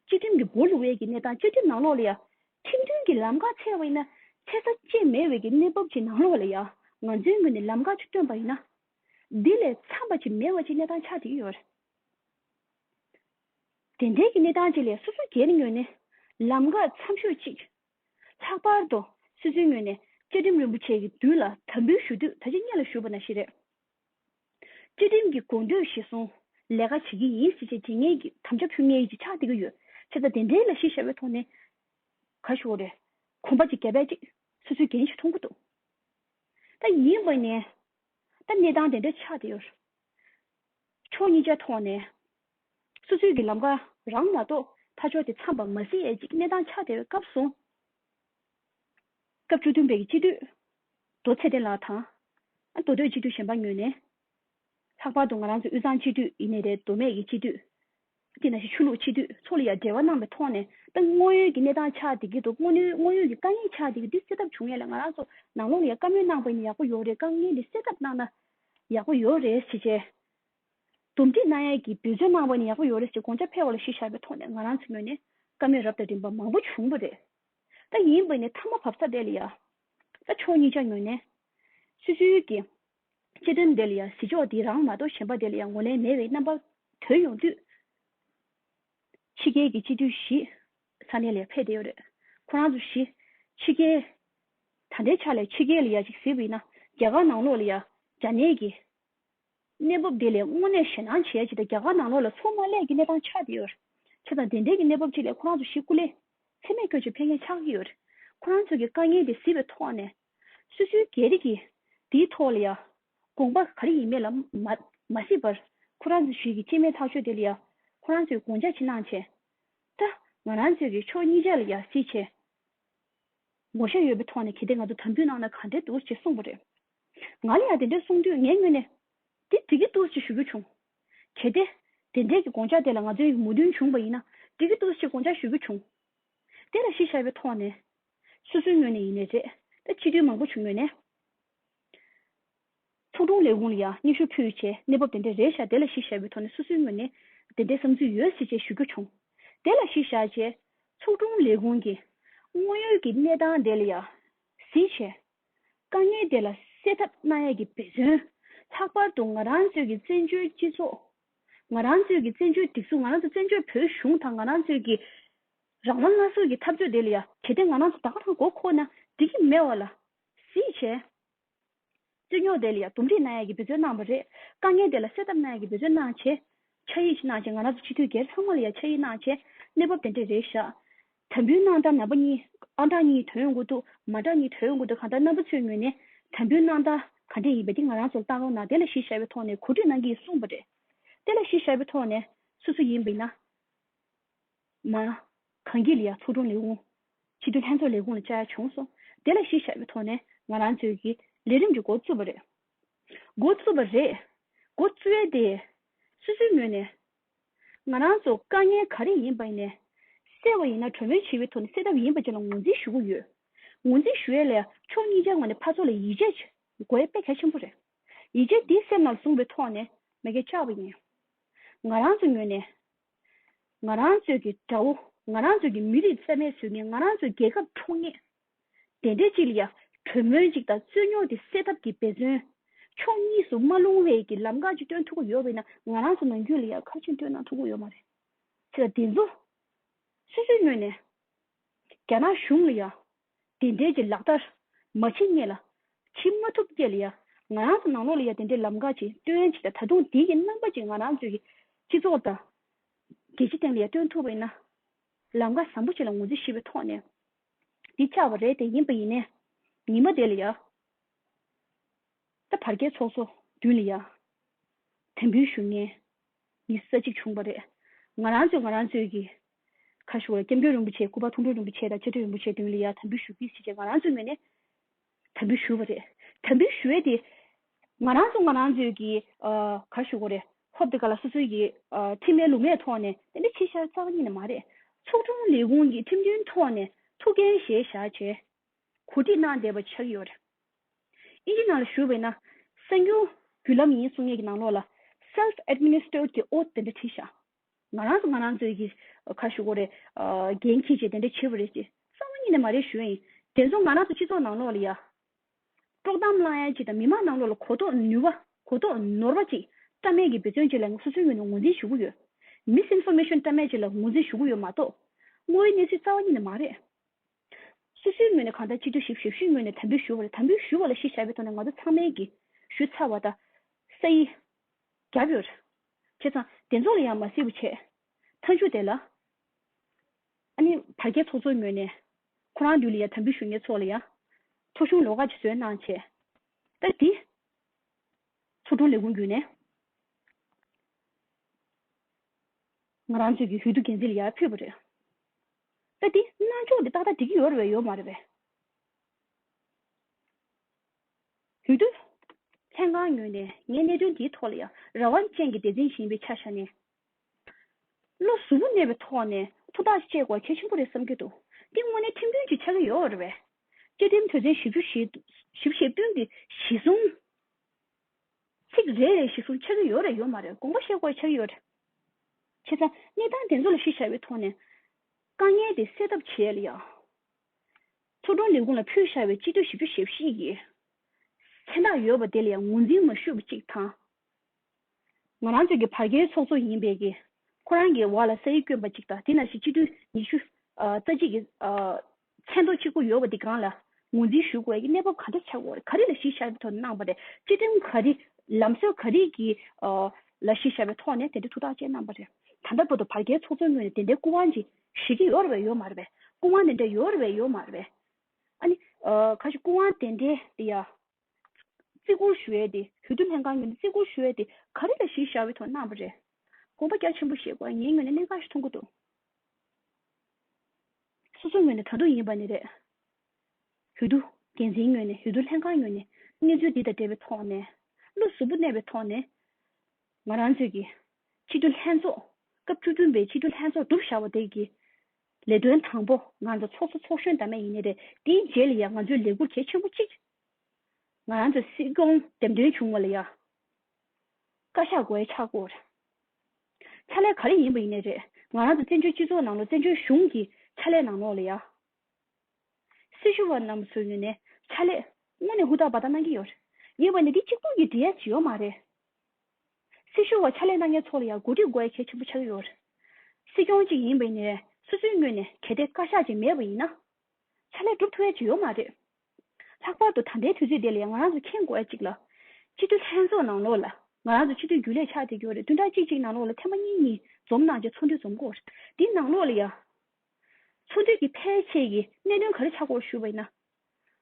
[SPEAKER 1] བཅའ་ཁྲིམས་ཀྱི་སྒོ་ལུགས་འེ་གི་གནས་སྟངས་བཅའ་ཁྲིམས་ནང་ལོགས་ལ་ཡ། ཁྲིམས་མཐུན་གྱི་ལམ་ཁ་ཚད་བ་ཡིན་ན། ཚད་ས་བཅད་མེད་འེ་གི་གནས་བབ་ཅིག་ནང་ལོགས་ལ་ཡ། ང་ཚོའི་ངོས་ནས་ལམ་ཁ་ཆུ་བཏོན་པ་ཡིན་ན། འདི་ལས་འཚམས་པ་ཅིག་མེད་བ་ཅིག་གནས་སྟངས་ཆགས་འདི་ཡོད། དེ་འབྲེལ་གྱི་གནས་སྟངས་བཅས་ལས་སོ་སོ་སྒེར་ངོས་ནས་ལམ་ཁ་མཚམས་ཤོག་ཅིག། ལྷག་པར་དུ་སི་ཚོའི་ངོས་ནས་བཅའ་ཁྲིམས་རིན་པོ་ཆེ་གི་དུས་ལ་དམ་འབུལ་ཞུ་དུས་ད་ཆ་གཉེར་ལ་ཞུགས་པ་ན་ཞིག་རེད། བཅའ་ཁྲིམས་ཀྱི་དགོངས་དོད་གཞི་བཟུང་ལས་ཀ་བྱེད་ཀྱི་ཡིན་སྲིད་ཅེས་དྲི་ངེས་ཀྱི་དམ་བཅའ་ཕུལ་ངེས་ཀྱི་ཆགས་བསྡད་ཀྱི་ཡོད་ཆེ་ད་དེ་འབྲེལ་ལ་གཞི་ཞྭ་བའི་ཐོག་ནས་ག་ཞོག་རེད་གོམ་པ་གཅིག་རྒྱ་བལ་གཅིག་སོ་སོའི་འགན་ཞིག་མཐོང་གི་འདུག་ད་ཡིན་པ་ནས་ད་གནས་སྟངས་དེ་འདྲ་ཆགས་བསྡད་ཡོད། ཕྱོགས་གཉིས་ཆ་ཐོག་ནས་སོ་སོའི་གི་ལམ་ཀ་རང་མ་གཏོགས་ཕ་ཕྱོགས་དེ་འཚམས་པ་མ་ཟིན་ཡས་ཅིག་གནས་སྟངས་ཆགས་བསྡད་པའི་སྐབས་སུ། སྐབས་བཅུ་བདུན་པའི་གི་སྤྱི་འཐུས་རྡོ་ཚེ་བརྟན་ལགས་དང། མདོ་སྟོད་སྤྱི་འཐུས་གཞན་པ་ཉོས་ནས། ལྷག་པར་དུ་ང་རང་ཚོའི་དབུས་གཙང་སྤྱི་འཐུས་ཡིན་ནས་རེད་མདོ་སྨད་ཀྱི་སྤྱི་འཐུས་སྐྱེས་ན་ཞེས་ཆོས་ལུགས་སྤྱི་འཐུས་ཚོ་ལ་ཡང་འབྲེལ་བ་གནང་བའི་ཐོག་ནས་ཏང་དངོས་ཡོད་ཀྱི་གནས་སྟངས་ཆགས་བསྡད་ཀྱི་འདུག་དངོས་ཡོད་ཀྱི་དཀའ་ངལ་ཆགས་བསྡད་ཀྱི་འདུག་སེལ་ཐབས་བྱུང་ཡས་ལ་ང་རང་ཚོ་ནང་ལོག་ལ་ཡང་བཀའ་མོལ་གནང་པ་ཡིན་ན་ཡག་པོ་ཡོད་རེད་དཀའ་ངལ་འདི་སེལ་ཐབས་གནང་ན་ཡག་པོ་ཡོད་རེད་ཞེས་བྱས། འདུམ་འགྲིག་གནང་ཡས་ཀྱི་འབོད་བརྩོན་གནང་བ་ཡིན་ན་ཡག་པོ་ཡོད་རེད་ཅེས་དགོངས་འཆར་ཕེལ་བ་ལ་གཞི་བཞག་པའི་ཐོག་ནས་ང་རང་ཚོའི་ངོས་ནས་བཀའ་མོལ་རབ་དང་རིམ་པ་མང་པོ་བྱུང་བ་རེད། ད་ཡིན་པ་ནི་མཐའ་མ་བབས་ཚར་བསྡད་ལ་ཡ། ད་ཕྱོགས་གཉིས་ཆ་ངོས་ནས། སུད་སི་ཡུལ་གྱི་སྤྱི་དོན་འདི་ལ་ཡང་གཟི་མཆོག་འདི་རང་མ་གཏོགས་གཞན་པ་འདི་ལ་ཡང་ངོ་ལེན་མེད་པའི་རྣམ་པ། དོན་ཡོང་དུས། ཕྱི་རྒྱལ་གྱི་སྤྱི་འཐུས་བཞི། ས་གནས་ལས་ཕེབས་བསྡད་ཡོད་རེད། ཁོ་རང་ཚོ་བཞི། ཕྱི་རྒྱལ། ད་ལྟའི་ཆ་ལ་ཕྱི་རྒྱལ་ལ་ཡ་གཅིག་གཟིགས་པ་ཡིན་ན། རྒྱ་གར་ནང་ལོགས་ལ་ཡ། རྒྱ་ནད་ཀྱི། གནས་བབ་འདི་ལས་དངོས་གནས་ཞེད་སྣང་བྱེད་ཡ་གཅིག་དང་རྒྱ་གར་ནང་ལོགས་ལ་ཚུགས་མ་ལས་ཀྱི་གནས་སྟངས་ཆགས་བསྡད་ཡོད། ཆ་དང་དེ་འབྲེལ་གྱི་གནས་བབ་ཅིག་ལས་ཁོ་རང་ཚོ་བཞི་སྐུ་ལས། འཚེ་མེད་སྐྱོ་བྱེད་ཕེབས་མཁན་ཆགས་ཀྱི་ཡོད། ཁོ་རང་ཚོ་གི་དཀའ་ངལ་འདི་གཟིགས་པའི་ཐོག་ནས། སུ་ཤུལ་རྒྱལ་རིགས་ཀྱིས་དེའི་ཐོག་ལ་ཡང་དགོངས་པ་ག་རེ་ཡིན་མེད་ལ་མ་ཤེས་པར་ཁོ་རང་ཚོས་ཞུས་ཀྱི་སྤྱི་མེས་ཐག་ཆོད་དེ་ལ་ཡང་ཁོ་རང་ཚོས་དགོངས་འཇགས་ཕྱི་ནང་བྱས་ད། ང་རང་ཚོས་ཀྱི་ཕྱོགས་གཉིས་ཆ་ལ་ཡང་སྲིད་ཆེད་ངོ་ཤེས་ཡོད་པའི་ཐོག་ནས་གལ་ཏེ་ང་ཚོ་དམ་འབུལ་གནང་ན་ག་འདྲའི་འདུག་ཅེས་གསུངས་པ་རེད། ང་ལ་ཡང་དེ་འདྲ་གསུངས་དུས་ངས་དངོས་ནས་དེ་འགྲིག་གི་འདུག་ཅེས་ཞུ་རྒྱུ་བྱུང། གལ་ཏེ་དེ་འདྲའི་གི་དགོངས་འཇགས་དེ་ལ་ང་ཚོའི་མོས་མཐུན་བྱུང་བ་ཡིན་ན་འགྲིག་གི་འདུག་ཅེས་དགོངས་འཇགས་ཞུ་རྒྱུ་བྱུང། དེ་ལ་གཞི་བཞག་པའི་ཐོག་ནས་སོ་སོའི་ངོས་ནས་ཡིན་ནའི་རེད། ད་ཕྱི་དྲོའི་མང་པོ་བྱུང་མོད་ནས། ཚོགས་དྲུང་ལས་ཁུངས་ལ་ཡང་སྙན་ཞུ་ཕུལ་ཡོད་ཆེད་གནས་བབ་དེ་འདྲའི་རེད་བཞག་དེ་ལ་གཞི་བཞག་པའི་ཐོག་ནས་སོ་སོའི་ངོས་ནས་དེ་འདྲའི་བསམ་ཚུལ་ཡོད་སྲིད་ཅེས་ཞུ་རྒྱུ་བྱུང། དེ་ལ་གཞི་བཞག་ཅེས། ཚོགས་དྲུང་ལས་ཁུངས་ཀྱིས་དངོས་ཡོད་ཀྱི་གནས་སྟངས་དེ་ལ་ཡང་གཟིགས་ཆེད། དཀའ་ངལ་དེ་ལ་སེལ་ཐབས་གནང་ཡས་ཀྱི་འབད་བརྩོན། ལྷག་པར་དུ་ང་རང་ཚོས་ཀྱི་བཙན་བྱོལ་སྤྱི་ཚོགས། ང་རང་ཚོས་ཀྱི་བཙན་བྱོལ་སྒྲིག་འཛུགས་ང་རང་ཚོ་བཙན་བྱོལ་བོད་གཞུང་དང་ང་རང་ཚོས་ཀྱི་རང་དབང་སྔ་སོར་གྱི་ཐབས་བརྒྱུད་དེ་ལ་ཡ། གལ་ཏེ་ང་རང་ཚོ་ད་ག་དང་གོ་ཁོ་ན་འགྲིག་གི་མེད་བ་ལ། གཟིགས་བྱས། རྩོད་རྙོག་དེ་ལ་ཡ་འདུམ་འགྲིག་གནང་ཡ་གི་འབད་བརྩོན་གནང་བ་རེད། དཀའ་ངལ་དེ་ལ་སེལ་ཐབས་གནང་ཡ་གི་འབད་བརྩོན་གནང་བྱས། ཕྱག་ཡིག་ཅིག་གནང་བྱས་ང་རང་ཚོ་སྤྱི་འཐུས་སྒེར་ཚང་མ་ལ་ཡ་ཕྱག་ཡིག་གནང་བྱས། གནས་བབ་དེ་འདྲས་རེད་བཞག། དམ་འབུལ་གནང་སྟངས་ནང་པ་གཉིས་ཨང་གྲངས་གཉིས་དོན་དངོས་ཐུག་མ་གྲངས་གཉིས་དོན་དངོས་ཐུག་གང་ལྟར་རྣམ་པ་ཚོའི་ངོས་ནས་དམ་འབུལ་གནང་སྟངས་ག་འདྲས་ཡིན་པ་དེ་ང་རང་ཚོ་ལ་བལྟ་རོགས་གནང་དེ་ལ་གཞི་ཞར་བའི་ཐོག་ནས་གོ་སྒྲིག་གནང་གི་ཡིན་གསུངས་པ་རེད། དེ་ལ་གཞི་ཞར་བའི་ཐོག་ནས་སོ་སོ་ཡིན་པ་ཡིན་ན། ན། གངས་སྐྱིད་ལི་ཡག་ཚོགས་དྲུང་ལས་ཁུངས། ཕྱི་དྲོ་ལྷན་ཚོགས་ལས་ཁུངས་ལ་བཅར་བྱུང་སོང། དེ་ལ་གཞི་བཞག་པའི་ཐོག་ནས་ང་རང་ཚོས་ཀྱི་ལས་རིམ་གྱི་མགོ་བཙུགས་པ་རེད། མགོ་བཙུགས་པ་རེད། མགོ་བཙུགས་ཡས་དེ། སུད་སུའི་ངོས་ནས། ང་རང་ཚོ་དཀའ་ངལ་ག་རེ་ཡིན་པ་ནས། གསལ་བ་ཡིན་ན་གྲོས་མོལ་བྱེད་པའི་ཐོག་ནས་སེལ་ཐབས་ཡིན་པ་བཅས་ལ་ངོས་འཛིན་ཞུ་གི་ཡོད། ངོས་འཛིན་ཞུ་ཡས་ལས་ཕྱོགས་གཉིས་ཀྱི་ངོས་ནས་ཕར་ཚོགས་ལ་ཡིད་ཆེས་དགོས་ཡས་དཔེ་གལ་ཆེན་པོ་རེད། ཡིད་ཆེས་དེ་སེམས་ནང་བཟུང་བའི་ཐོག་ནས་མེ་སྐད་བཅག་པ་ཡིན། ང་རང་ཚོ་ངོས་ནས། ང་རང་ཚོས་ཀྱི་དགྲ་བོ། ང་རང་ཚོས་ཀྱི་མི་རིགས་རྩལ་མེད་བཟོས་ནས་ང་རང་ཚོའི་རྒྱལ་ཁབ་འཕྲོག་ངེས། དེ་འདྲའི་ཅི་ལ་ཡ། གྲོས་མོལ་ཅིག་དང་རྩོད་རྙོག་དེ་སེལ་ཐབས་ཀྱི་འབད་བརྩོན། ཕྱོགས་གཉིས་སུ་མ་ལྷུང་བའི་ཀྱི་ལམ་ཁ་ཅིག་སྟོན་ཐུབ་ཀྱི་ཡོད་བས་ན་ང་རང་ཚོ་ནང་རྒྱུན་ལ་ཡང་ཁ་ཆེམས་སྤྲོད་གནང་ཐུབ་ཀྱི་ཡོད་མ་རེད། ཅི་ལ་དེ་ཚོ། སོ་སོའི་ངོས་ནས། རྒྱ་ནག་གཞུང་ལ་ཡང། དེ་འབྲེལ་གྱི་ལག་བསྟར་མ་བྱས་རྙེད་ལ། བྱེད་མ་ཐུབ་རྐྱལ་ལ་ཡང་ང་རང་དང་ནང་ལོག་ལ་ཡང་དེ་འདྲའི་ལམ་ཁ་ཅིག་སྟོན་ཆེད་དང་ད་དུང་དེའི་རྣམ་པ་ཅིག་ང་རང་ཚོའི་སྤྱི་ཚོགས་དང། རྒྱལ་སྤྱི་སྟེང་ལ་ཡང་སྟོན་ཐུབ་པ་ཡིན་ན། ལམ་ཁ་བཟང་པོ་ཞིག་ལ་ངོས་འཛིན་ཞིབ་པའི་ཐོག་ནས་འདི་ཆགས་པ་རེད་དེ་ཡིན་པ་ཡིན་ནས་ཉིན་མ་དེ་ལ་ཡང། ད་བར་རྒྱལ་ཚོགས་ཚོགས་མདུན་ལ་ཡང་དྲན་འབུལ་ཞུ་ངེས་ཡིག་ས་གཅིག་བྱུང་བ་རེད། ང་རང་ཚོས་ང་རང་ཚོས་ཀྱི། ཁ་ཞུ་བ་ལ་སྐྱབས་མགོན་རིན་པོ་ཆེ་སྐུ་པར་ཐུགས་འདུན་རིན་པོ་ཆེ་དང་བཅའ་ཁྲིམས་རིན་པོ་ཆེ་མདུན་ལ་ཡར་དམ་འབུལ་ཞུ་རྒྱུའི་ཆེད་ཀྱི་ང་རང་ཚོའི་ངོས་ནས། དམ་འབུལ་ཞུ་བ་རེད། དམ་འབུལ་ཞུ་བས་དེ། ང་རང་ཚོ་ང་རང་ཚོས་ཀྱི། ཁ་ཞུ་བ་རེད། ཧོབ་དེ་ག་ལ་སོ་སོའི་ཀྱི། ཁྲིམས་མའི་ལུགས་མའི་ཐོག་ནས་དེ་འདྲ་ཕྱི་བཤར་རྩ་བ་ཉིད་ནས་མ་རེད། ཚོགས་དྲུང་ལས་ཁུངས་ཀྱི་ཁྲིམས་མཐུན་ཐོག་ནས་ཐུགས་འགན་བཞེས་བཞག་བྱས། གོ་སྒྲིག་གནང་བསྡད་པ་ཆགས་ཡོད། ཨིན་ཇི་ནང་ལ་ཞུགས་པའི་ན་གསང་རྒྱུ་བརྒྱུད་ལམ་ཡིན་གསུང་ངེས་ཀྱི་ནང་ལོགས་ལ Self Administered གྱི་ཨོ་དེ་འདྲ་བྲིས་ཤག་ང་རང་ཚོ་ང་རང་ཚོའི་གི་ཁ་ཞུ་གོ་རེ་འགན་འཁྱེར་ཅེས་དེ་འདྲ་བྱེད་པ་རེད་ཅེས་གསང་བ་གཉིས་ནས་མ་རེད་ཞུ་ཡ་ཡིན་དེ་ཚོ་ང་རང་ཚོ་སྤྱི་ཚོགས་ནང་ལོགས་ལ་ཡ་དཀྲོག་གཏམ་བསླང་ཡ་གཅིག་དང་མི་མང་ནང་ལོགས་ལ་གོ་རྟོགས་ནུས་བ་གོ་རྟོགས་ནོར་བ་གཅིག་བཀྲ་མེད་ཀྱི་འབད་བརྩོན་བཅས་ལ་ངས་སོ་སོའི་ངོས་ནས་ངོས་འཛིན་ཞུ་གི་ཡོད Misinformation བཀྲ་མེད་བཅས་ལ་ངོས་འཛིན་ཞུ་གི་ཡོད་མ་གཏོགས་དངོས་ཡོད་གནས་ཚུལ་རྩ་བ་གཉིས་ནས་མ་རེད། སོ་སོའི་ངོས་ནས་གང་ལྟར་སྤྱི་སྒྲོག་ཞིབ་ཞབས་ཞུའི་ངོས་ནས་དམ་འབུལ་ཞུ་བ་རེད་དམ་འབུལ་ཞུ་བ་ལ་གཞི་བཞག་པའི་ཐོག་ནས་ང་ཚོ་ཚང་མའི་གིས་ཞུ་ཚར་བ་དང། ས་ཡི། རྒྱབ་ཡོལ། བྱས་ཙང་བདེ་ཚོགས་ལ་ཡང་མ་སེར་བུ་བྱས། མཐའ་མཇུག་དེ་ལ། ཨ་ནི་བར་བརྒལ་ཚོགས་གཙོ་ངོས་ནས། ཁོ་རང་དུས་ལ་ཡང་དམ་འབུལ་ཞུ་ཉེ་ཚོགས་ལ་ཡང། ཚོགས་གཞུང་ལོགས་ཁག་ཅིག་བཟོས་གནང་བྱས། ལྟར་དེ། ཚོགས་དྲུང་ལས་ཁུངས་བརྒྱུད་ནས། ང་རང་ཚོའི་ཡུལ་དུ་འགན་འཛིན་ལ་ཡར་ཕུད་པ་རེད། ད་འདི་རྣ་ཅོག་འདི་ཏག་ཏག་འགྲིག་གི་ཡོད་རེད་ཡོད་མ་རེད་པས། ཡུལ་དུ་ལྷན་ཁང་ཉོས་ནས་ངས་གནད་དོན་འདིའི་ཐོག་ལ་ཡང་རང་དབང་ཅན་གྱི་སྡེ་ཚན་གཞན་པའི་ཆ་བཞག་ནས། བློ་གཟུ་བོ་གནས་པའི་ཐོག་ནས་ཐུགས་ཐག་གཅད་དགོས་གལ་ཆེན་པོ་རེད་བསམ་གྱི་འདུག་འདི་དངོས་གནས་ཁྲིམས་དཔོན་གྱིས་ཆགས་ཀྱི་ཡོད་རེད་པས། བཅའ་ཁྲིམས་དོན་ཚན་བཞི་བཅུ་ཞེ་བཞི་བཞི་བཅུ་བདུན་གྱི་གཞི་བཟུང། ཚིག་རེ་རེ་བཞིན་གསུང་ཆགས་ཀྱི་ཡོད་རེད་ཡོད་མ་རེད་དགོངས་པ་བཞེས་དགོས་ཆགས་ཀྱི་ཡོད་རེད། བྱས་ཙང་གནས་སྟངས་དེ་ཚོ་ལ་གཞི་བཞག་པའི་ཐོག་ནས། དཀའ་ངལ་དེ་སེལ་ཐབས་བྱས་ལ་ཡང། ཚོགས་དྲུང་ལས་ཁུངས་ལ་ཕུལ་བཞག་པའི་སྤྱི་འཐུས་ཞིབ་དཔྱོད་ཞིབ་བཤེར་གྱི་མཚན་རྟགས་ཡོད་པ་དེ་ལ་ཡང་ངོས་འཛིན་མ་ཞུས་པ་གཅིག་དང། ང་རང་ཚོའི་གི་བར་བརྒལ་ཚོགས་གཙོ་ཡིན་པས་ཀྱི་ཁོ་རང་གི་བར་ལ་ས་ཡིག་བསྐྱོན་པ་གཅིག་དང་དེ་ན་བཞིན་སྤྱི་འཐུས་ཉི་ཤུ་རྩ་གཅིག་གི་མཚན་ཐོ་གཅིག་པོ་ཡོད་པ་དེ་གང་ལ་ངོས་འཛིན་ཞུ་དགོས་ཀྱི་གནས་བབ་ག་འདྲ་ཆགས་ཡོད་རེད་ག་རེ་ལ་གཞི་བཞག་པའི་ཐོག་ནས་གནང་བ་རེད་སྤྱི་ཁྲིམས་ག་རེ་ལམ་སྲོལ་ག་རེ་གི་ལ་གཞི་བཞག་པའི་ཐོག་ནས་དེ་འདྲའི་ཐུགས་ཐག་བཅད་གནང་བ་རེད་ད་ལྟ་བར་དུ་བར་བརྒལ་ཚོགས་གཙོའི་ངོས་ནས་དེ་འདྲའི་སྐུ་དབང་ཅིག་ཞིག་གི་ཡོད་རེད་ཡོད་མ་རེད་སྐུ་དབང་དེ་འདྲ་ཡོད་རེད་ཡོད་མ་རེད་ཨ་ནི་ག་ཞིག་སྐུ་དབང་དེ་འདྲའི་དེ་ཡ། བརྩི་བཀུར་ཞུ་ཡས་ཏེ་བོད་དུ་ལྷན་ཁང་གཉེར་ནས་བརྩི་བཀུར་ཞུ་ཡས་ཏེ་ག་རེ་ལ་གཞི་བཞག་པའི་ཐོག་གནང་བ་རེད་དགོངས་པ་རྒྱ་ཆེན་པོ་ཞེས་དགོས་ངའི་ངོས་ནས་གནད་འགག་ཞིག་མཐོང་གི་འདུག་སོ་སོ་ངོས་ནས་དྲ་འདུག་ཡིན་པ་ནི་རེད། བོད་དུ་འགན་འཛིན་ངོས་ནས་བོད་དུ་ལྷན་ཁང་ངོས་ནས་གནས་ཚུལ་འདི་དང་འབྲེལ་བའི་ཐོག་ནས་བློ་གཟུ་བོ་གནས་པའི་ཐོག་ནས་ང་རང་ཚོས་ཀྱི་ཕྱི་དྲོ་ལྷན་ཚོགས་སྐབས་བཅུ་བདུན་པའི་ཕྱི་དྲོ་ལྷན་ཚོགས་གྲུབ་བཞག་པ་དེ་གི་ལས་དོན་དང་པོ་ང་ཚོ་ཚོགས་གཙོ་ཚོགས་གཞོན་དར་མ་ཡིན་ནི་རེད་དེའི་རྗེས་ལ་ཡང་ང་ཚོས་ལས་འཁུར་གལ་ཆེན་པོ་གཅིག་ང་ཚོས་སྲིད་སྐྱོང་འདེམས་ཐོན་བྱུང་བ་ལ་ཡང་བཀའ་ཤག་གོའི་ཕྱག་སྐོར་ཕྱག་ལས་ག་རེ་ཡིན་པ་ཡིན་ནི་རེད་ང་རང་ཚོ་བཙན་བྱོལ་སྤྱི་ཚོགས་ནང་ལོ་བཙན་བྱོལ་གཞུང་གི་ཕྱག་ལས་ནང་ལོགས་ལ་ཡང་སྲི་ཞུ་བ་རྣམས་སུ་ཡོད་ནི་ཕྱག་ལས་དངོས་ནས་ཧུར་ཐག་བ་ཐག་གནང་གི་ཡོད་རེད་ཡིན་བ་ནི་འདི་གཅིག་པུ་ཡི་འབྲེལ་ཡ་ཇི་ཡོང་མ་རེད། སྲིད་གཞུང་བ་ཕྱག་ལས་གནང་མཁན་ཚོ་ལ་ཡང་གོ་སྒྲིག་དགོས་གལ་ཆེན་པོ་ཆགས་ཀྱི་ཡོད། སྲིད་སྐྱོང་གཅིག་ཡིན་པའི་ནས་སོ་སོའི་ངོས་ནས་གལ་ཏེ་བཀའ་ཤག་ཅིག་མེད་པ་ཡིན་ན། ཕྱག་ལས་སྒྲུབ་ཐུབ་བའི་བྱེད་ཡོ་མ་རེད། ལྷག་པར་དུ་ད་ལྟའི་དུས་ཚོད་འདི་ལས་ང་རང་ཚོ་མཁྱེན་དགོས་ཡ་གཅིག་ལ། སྤྱི་འཐུས་ལྷན་ཚོགས་ནང་ལོགས་ལ་ང་རང་ཚོ་སྤྱི་འཐུས་རྒྱུན་ལས་ཕྱག་དེ་གྱོ་རེ་བདུན་ཕྲག་གཅིག་གཅིག་ནང་ལོགས་ལ་ཐེངས་མ་གཉིས་གཉིས་འཛོམས་གནང་རྗེས་ཚོགས་འདུ་འཛོམས་སྐོར་དེ་ནང་ལོགས་ལ་ཡང། ཚོགས་འདུས་ཀྱི་ཕལ་ཆེར་གྱི་གནད་དོན་ག་རེ་ཆགས་སྐོར་ཞུ་བ་ཡིན་ན།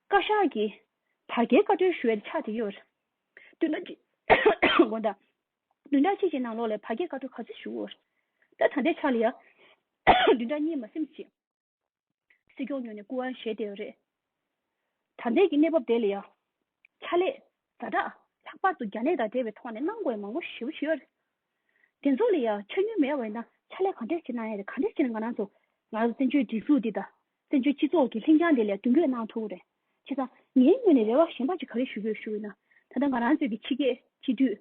[SPEAKER 1] བཀའ་ཤག་གིས་དྲ་རྒྱའི་བཀའ་འཁྲོལ་ཞུ་བའི་ཕྱག་དེ་གྱོ་རེ། བདུན་ཕྲག་གཅིག་དགོན་དང། བདུན་ཕྲག་གཅིག་གི་ནང་ལོགས་ལས་བར་བརྒལ་བཀའ་འགྲོ་ག་ཚོད་བཞུགས། ད་ད་ལྟའི་ཆར་ལ་ཡང་བདུན་ཕྲག་གཉིས་མ་སེམས་ཅིག། སྲིད་སྐྱོང་ཉོས་ནས་སྐུ་དབང་བཞེས་བསྡད་རེད། ད་ལྟའི་གི་གནས་བབ་དེ་ལ་ཡང། ཕྱག་ལས། ཟ་གྲྭ། ལྷག་པར་དུ་རྒྱ་ནད་དང་འབྲེལ་བའི་ཐོག་ནས་གནང་དགོས་མང་པོ་ཞིབ་ཡོད། དེ་ཚོ་ལ་ཡང་ཆ་སྙོན་མེད་བས་ན་ཕྱག་ལས་ག་འདྲས་བྱེད་ན་ཡང་རེད་ག་འདྲས་བྱེད་ན་ང་རང་ཚོ་ང་རང་ཚོ་བཙན་བྱོལ་སྒྲིག་འཛུགས་འདི་དང། བཙན་བྱོལ་སྤྱི་ཚོགས་ཀྱི་ལྷིང་འཇགས་འདི་ལས་མདུན་བསྐྱོད་གནང་ཐུབ་ཀྱི་རེད། བྱས་ཙང། ངའི་ངོས་ནས་རེ་བ་གཞན་པ་ཅིག་ག་རེ་ཞུ་དགོས་ཞུ་འོས་ན། ད་ལྟ་ང་རང་ཚོའི་གི་ཕྱི་སྐད་སྤྱི་འཐུས།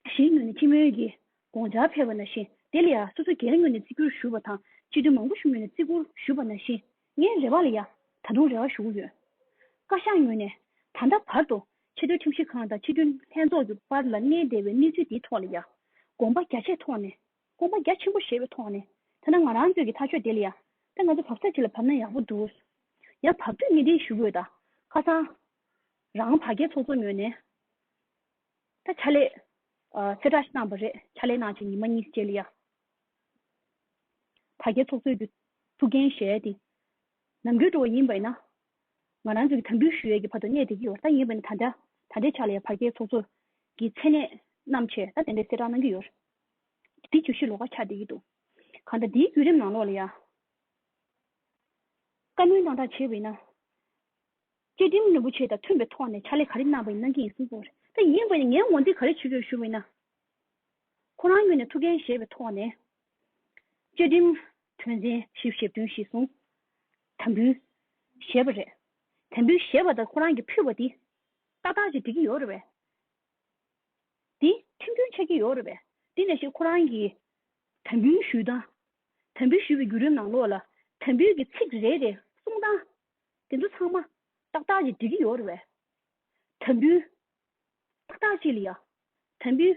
[SPEAKER 1] གཞན་ངོས་ནས་སྤྱི་མོལ་གྱི་དགོངས་འཆར་ཕེབས་པ་ན་བཞིན་དེ་ལ་ཡ་སོ་སོ་སྒེར་ངོས་ནས་བརྩི་བཀུར་ཞུ་བ་དང་སྤྱི་འཐུས་མང་པོ་ཞུ་ངོས་ནས་བརྩི་བཀུར་ཞུ་བ་ན་བཞིན་ངའི་རེ་བ་ལ་ཡ། ད་དུང་རེ་བ་ཞུ་གི་ཡོད། བཀའ་ཤག་ངོས་ནས། ད་ལྟ་བར་དུ་ཆེ་མཐོའི་ཁྲིམས་ཞིབ་ཁང་དང་སྤྱི་འཐུས་ལྷན་ཚོགས་ཀྱི་བར་ལ་གནས་བདེ་བའི་གནས་ཚུལ་འདིའི་ཐོག་ལ་ཡ། དགོངས་པ་རྒྱ་ཆེ་ཐོག་ནས་དགོངས་པ་རྒྱ་ཆེན་པོ་བཞེས་པའི་ཐོག་ནས་ཐ་ན་ང་རང་ཚོས་ཀྱི་ཐག་གཅོད་དེ་ལ་ཡང་དཔེ་ང་ཚོ་བབ་ས་ཅིག་ལ་བབ་ན་ཡག་པོ་འདུག་ཡང་བབ་དུས་གནས་དེའི་ཞུ་འབོད་དང་ཁ་སང་རང་བ་རྒྱལ་ཚོགས་གཙོ་ངོས་ནས་ད་ཕྱག་ལས་གསལ་བསྒྲགས་ཤིག་གནང་བ་རེད་ཕྱག་ལས་གནང་བྱས་ཉིན་མ་གཉིས་རྗེས་ལ་ཡང་བ་རྒྱལ་ཚོགས་གཙོས་ཀྱི་ཐུགས་འགན་བཞེས་ཏེ་ལམ་འགྲོལ་འགྲོ་བ་ཡིན་པས་ན་ང་རང་ཚོས་ཀྱི་དམ་འབུལ་ཞུ་ཡས་ཀྱི་བར་དུ་གནས་དེ་གི་ཡོ་ད་ཡིན་པས་ན་ད་འདྲའི་ཕྱག་ལས་བ་རྒྱལ་ཚོགས་གཙོས་ཀྱི་མཚན་གནས་རྣམས་ཆེ་ད་དེ་འདྲའི་གསལ་བསྒྲགས་གནང་གི་ཡོད། འདི་བཅུ་བཞི་ལོ་ཀ་ཆགས་བསྡད་ཀྱི་འདུག་གང་ལྟར་འདིའི་བརྒྱུད་རིམ་ནང་ལོགས་ལ་ཡང་བཀའ་མོལ་གནང་གྲགས་བྱས་པ་ཡིན་ན། བཅའ་ཁྲིམས་རིན་པོ་ཆེ་དང་མཐུན་པའི་ཐོག་ནས་ཕྱག་ལས་ག་རེ་གནང་བ་ཡིན་གནང་གི་ཡིན་གསུངས་སོང། ད་ཡིན་དགོས་ནས་ངས་ངོ་འདོན་ག་རེ་བྱེད་དགོས་ཞུ་བ་ཡིན་ན། ཁོ་རང་ངོས་ནས་ཐུགས་འགན་བཞེས་པའི་ཐོག་ནས། བཅའ་ཁྲིམས་དོན་ཚན་བཞི་བཞི་བདུན་བཞི་གསུམ་དམ་འབུལ་བཞེས་པ་རེད། དམ་འབུལ་བཞེས་པ་དང་ཁོ་རང་གིས་ཕུལ་བ་འདི་ཏག་ཏག་ཅིག་འགྲིག་གི་ཡོད་རེད་བས། དེ་ཁྲིམས་མཐུན་ཆགས་ཀྱི་ཡོད་རེད་པས། དེ་ནས་ཞིག་ཁོ་རང་གིས་དམ་འབུལ་ཞུས་དང། དམ་འབུལ་ཞུས་པའི་བརྒྱུད་རིམ་ནང་ལོགས་ལ་དམ་འབུལ་གྱི་ཚིག་རེ་རེ་གསུངས་སྟངས། དེ་ཚོ་ཚང་མ་ཏག་ཏག་ཅིག་འགྲིག་གི་ཡོད་རེད་པས། དམ་འབུལ་ཏག་ཏག་ཅིག་ལ་ཡང། དམ་འབུལ་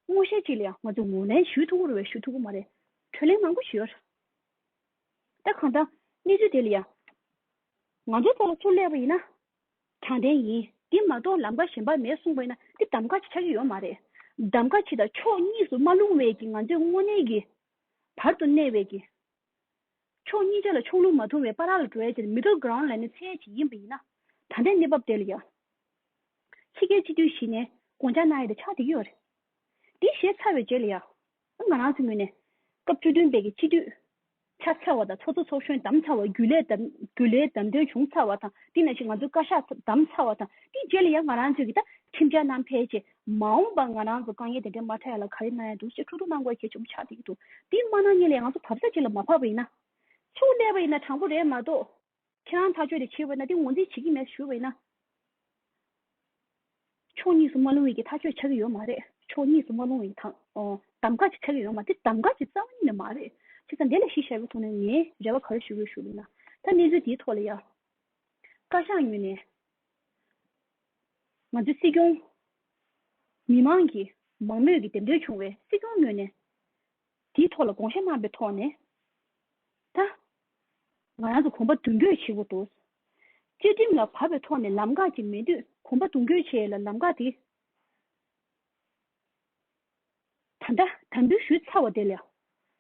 [SPEAKER 1] སྔོན་བཤད་ཅིག་ལ་ཡང་ང་ཚོས་ངོས་ལེན་ཞུས་ཐུབ་ཀྱི་རེད་པས་ཞུས་ཐུབ་ཀྱི་མ་རེད། གྲོས་ལེན་མང་པོ་ཞུས་ཡོད་རེད། ད་གང་ལྟར་གནས་ཚུལ་དེ་ལ་ཡང། ང་ཚོའི་ཐོག་ལ་ཚུར་སླེབས་པ་ཡིན་ན། དྲང་བདེན་ཡིན། འདི་མ་གཏོགས་ལམ་ཁ་གཞན་པ་མེད་གསུངས་པས་ན་འདི་གདམ་ག་ཆེ་ཆགས་ཀྱི་ཡོད་མ་རེད། གདམ་ག་ཆེ་དང་ཕྱོགས་གཉིས་སུ་མ་ལྷུང་བས་ཀྱི་ང་ཚོས་དངོས་གནས་ཀྱི། བར་དུ་གནས་བས་ཀྱི། ཕྱོགས་གཉིས་ཆ་ལ་ཕྱོགས་ལྷུང་མ་ཐུང་བའི་པ་རག་ལ་འགྲོ་བས་དེར Middle Ground ལ་ནི་ཚད་ཡས་བྱེད་ཡིན་པ་ཡིན་ན། ད་ལྟའི་གནས་བབ་དེ་ལ་ཡང། ཕྱི་རྒྱལ་སྤྱི་འཐུས་ཞིག་ནས་དགོངས་འཇགས་གནང་ཡས་དེ་ཆགས་འདི་ཡོད་རེད། འདི་བཤད་ཚར་བའི་རྗེས་ལ་ཡང། ང་རང་ཚོའི་ངོས་ནས། སྐབས་བཅུ་བདུན་པའི་གི་སྤྱི་འཐུས། ཆགས་ཚར་བ་དང་ཚོགས་གཙོ་ཚོགས་གཞོན་བདམས་ཚར་བ་རྒྱུན་ལས་རྒྱུན་ལས་བདམས་ཐོན་བྱུང་ཚར་བ་དང་དེ་ན་བཞིན་ང་ཚོའི་བཀའ་ཤག་བདམས་ཚར་བ་དང་དེའི་རྗེས་ལ་ཡང་ང་རང་ཚོའི་གི་ད་ཁྲིམས་འཆར་ནང་ཕལ་ཆེ་མ་འོངས་པར་ང་རང་ཚོ་དཀའ་ངལ་དེ་འདྲའི་མ་འཕྲད་ཡ་ལ་ག་རེ་གནང་ཡ་འདུག་ཅེས་ཁྲོ་ཁྲོ་གནང་དགོས་གལ་ཆེན་པོ་ཆགས་བསྡད་ཀྱི་འདུག་དེ་མ་གནང་ཉིན་ལ་ཡང་ང་ཚོ་བབས་ས་གཅིག་ལ་མ་བབས་པ་ཡིན་ན། ཆུ་བླས་པ་ཡིན་ན་དྲང་པོ་རེད་མ་གཏོགས། ཁྱེད་རང་ཐག་ཆོད་དེ་ཕྱིར་བས་ན་དེ་ངོ་འཛིན་བྱེད་ཀྱི་མེད་ཞུ་བས་ན། ཕྱོགས་གཉིས་སུ་མ་ལྷུང་བའི་གི་ཐག་ཆོད་ཆགས་ཀྱི་ཡོད་མ་རེད་ཕྱོགས་གཉིས་སུ་མ་ལྷུང་བའི་གི་ཐང་གདམ་ག་ཅིག་ཆགས་ཀྱི་ཡོད་མ་དེ་གདམ་ག་ཅིག་རྩ་བ་ཉིད་ནས་མ་རེད་ཆེ་ས་འདི་ལ་གཞི་ཞར་བའི་ཐོག་ནས་ངས་རེ་བ་ག་རེ་ཞུ་དགོས་ཞུ་བས་ན་ད་གནས་ཚུལ་འདིའི་ཐོག་ལ་ཡང་བཀའ་ཤག་ངོས་ནས་ང་ཚོའི་སྲིད་སྐྱོང་མི་མང་གིས་མང་མོས་ཀྱིས་འདེམས་ཐོན་བྱུང་བས་སྲིད་སྐྱོང་ངོས་ནས་དེའི་ཐོག་ལ་དགོངས་བཞེས་གནང་པའི་ཐོག་ནས་ད། ང་རང་ཚོ་གོམ་པ་མདུན་སྐྱོད་བྱེད་དགོས་འདུག་བཅའ་ཁྲིམས་ལ་བབ་པའི་ཐོག་ནས་ལམ་འགག་ཅིག་མེད་དུས་གོམ་པ་མདུན་སྐྱོད་བྱས་ལ་ལམ་འགག་དེ་ད་ལྟ་དམ་འབུལ་ཞུས་ཚར་བ་དེ་ལ་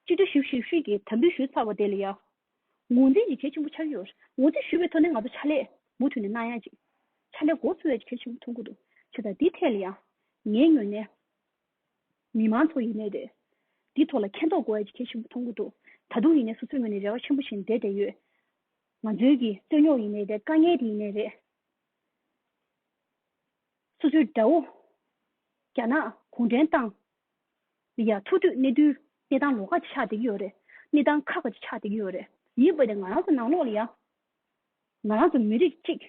[SPEAKER 1] སྤྱི་འཐུས་ཞིབ་ཞིབ་ཤོས་ཀྱིས་དམ་འབུལ་ཞུས་ཚར་བ་དེ་ལ་ཡང་ངོས་འཛིན་ཅིག་གལ་ཆེན་པོ་ཆགས་ཀྱི་ཡོད་ངོས་འཛིན་ཞུས་པའི་ཐོག་ནས་ང་ཚོ་ཕྱག་ལས་མུ་མཐུད་ནས་གནང་ཡག་ཅིག་ཕྱག་ལས་འགོ་འཚོ་བའི་གལ་ཆེན་པོ་མཐོང་གི་འདུག་ཆ་ད་དེའི་ཐད་ལ་ཡང་ངའི་ངོས་ནས། མི་མང་ཚོ་ཡིན་ནའི་རེད། འདི་ཐོག་ལ་མཁས་མདོག་གོ་ཨེ་ཆེ་ཞིག་མཐོང་གི་འདུག་ད་དུང་ཡིན་ནའི་སོ་སོའི་ངོས་ནས་རེ་བ་ཆེན་པོ་བཞིན་བསྡད་བསྡད་ཡོད། ང་ཚོའི་གི་རྩོད་རྙོག་ཡིན་ནའི་རེད་དཀའ་ངལ་དེ་ཡིན་ནའི་རེད། སོ་སོའི་དགྲ་བོ། རྒྱ་ནག་གུང་ཁྲན་ཏང། ཡ་ཐུག་དུས་གནས་དུས་གནས་སྟངས་ལོགས་ཁ་ཅིག་ཆགས་བསྡད་ཀྱི་ཡོད་རེད། གནས་སྟངས་ཁག་ཁ་ཅིག་ཆགས་བསྡད་ཀྱི་ཡོད་རེད། ཡིན་པ་དེ་ང་རང་ཚོ་ནང་ལོགས་ལ་ཡང། ང་རང་ཚོ་མི་རིགས་གཅིག།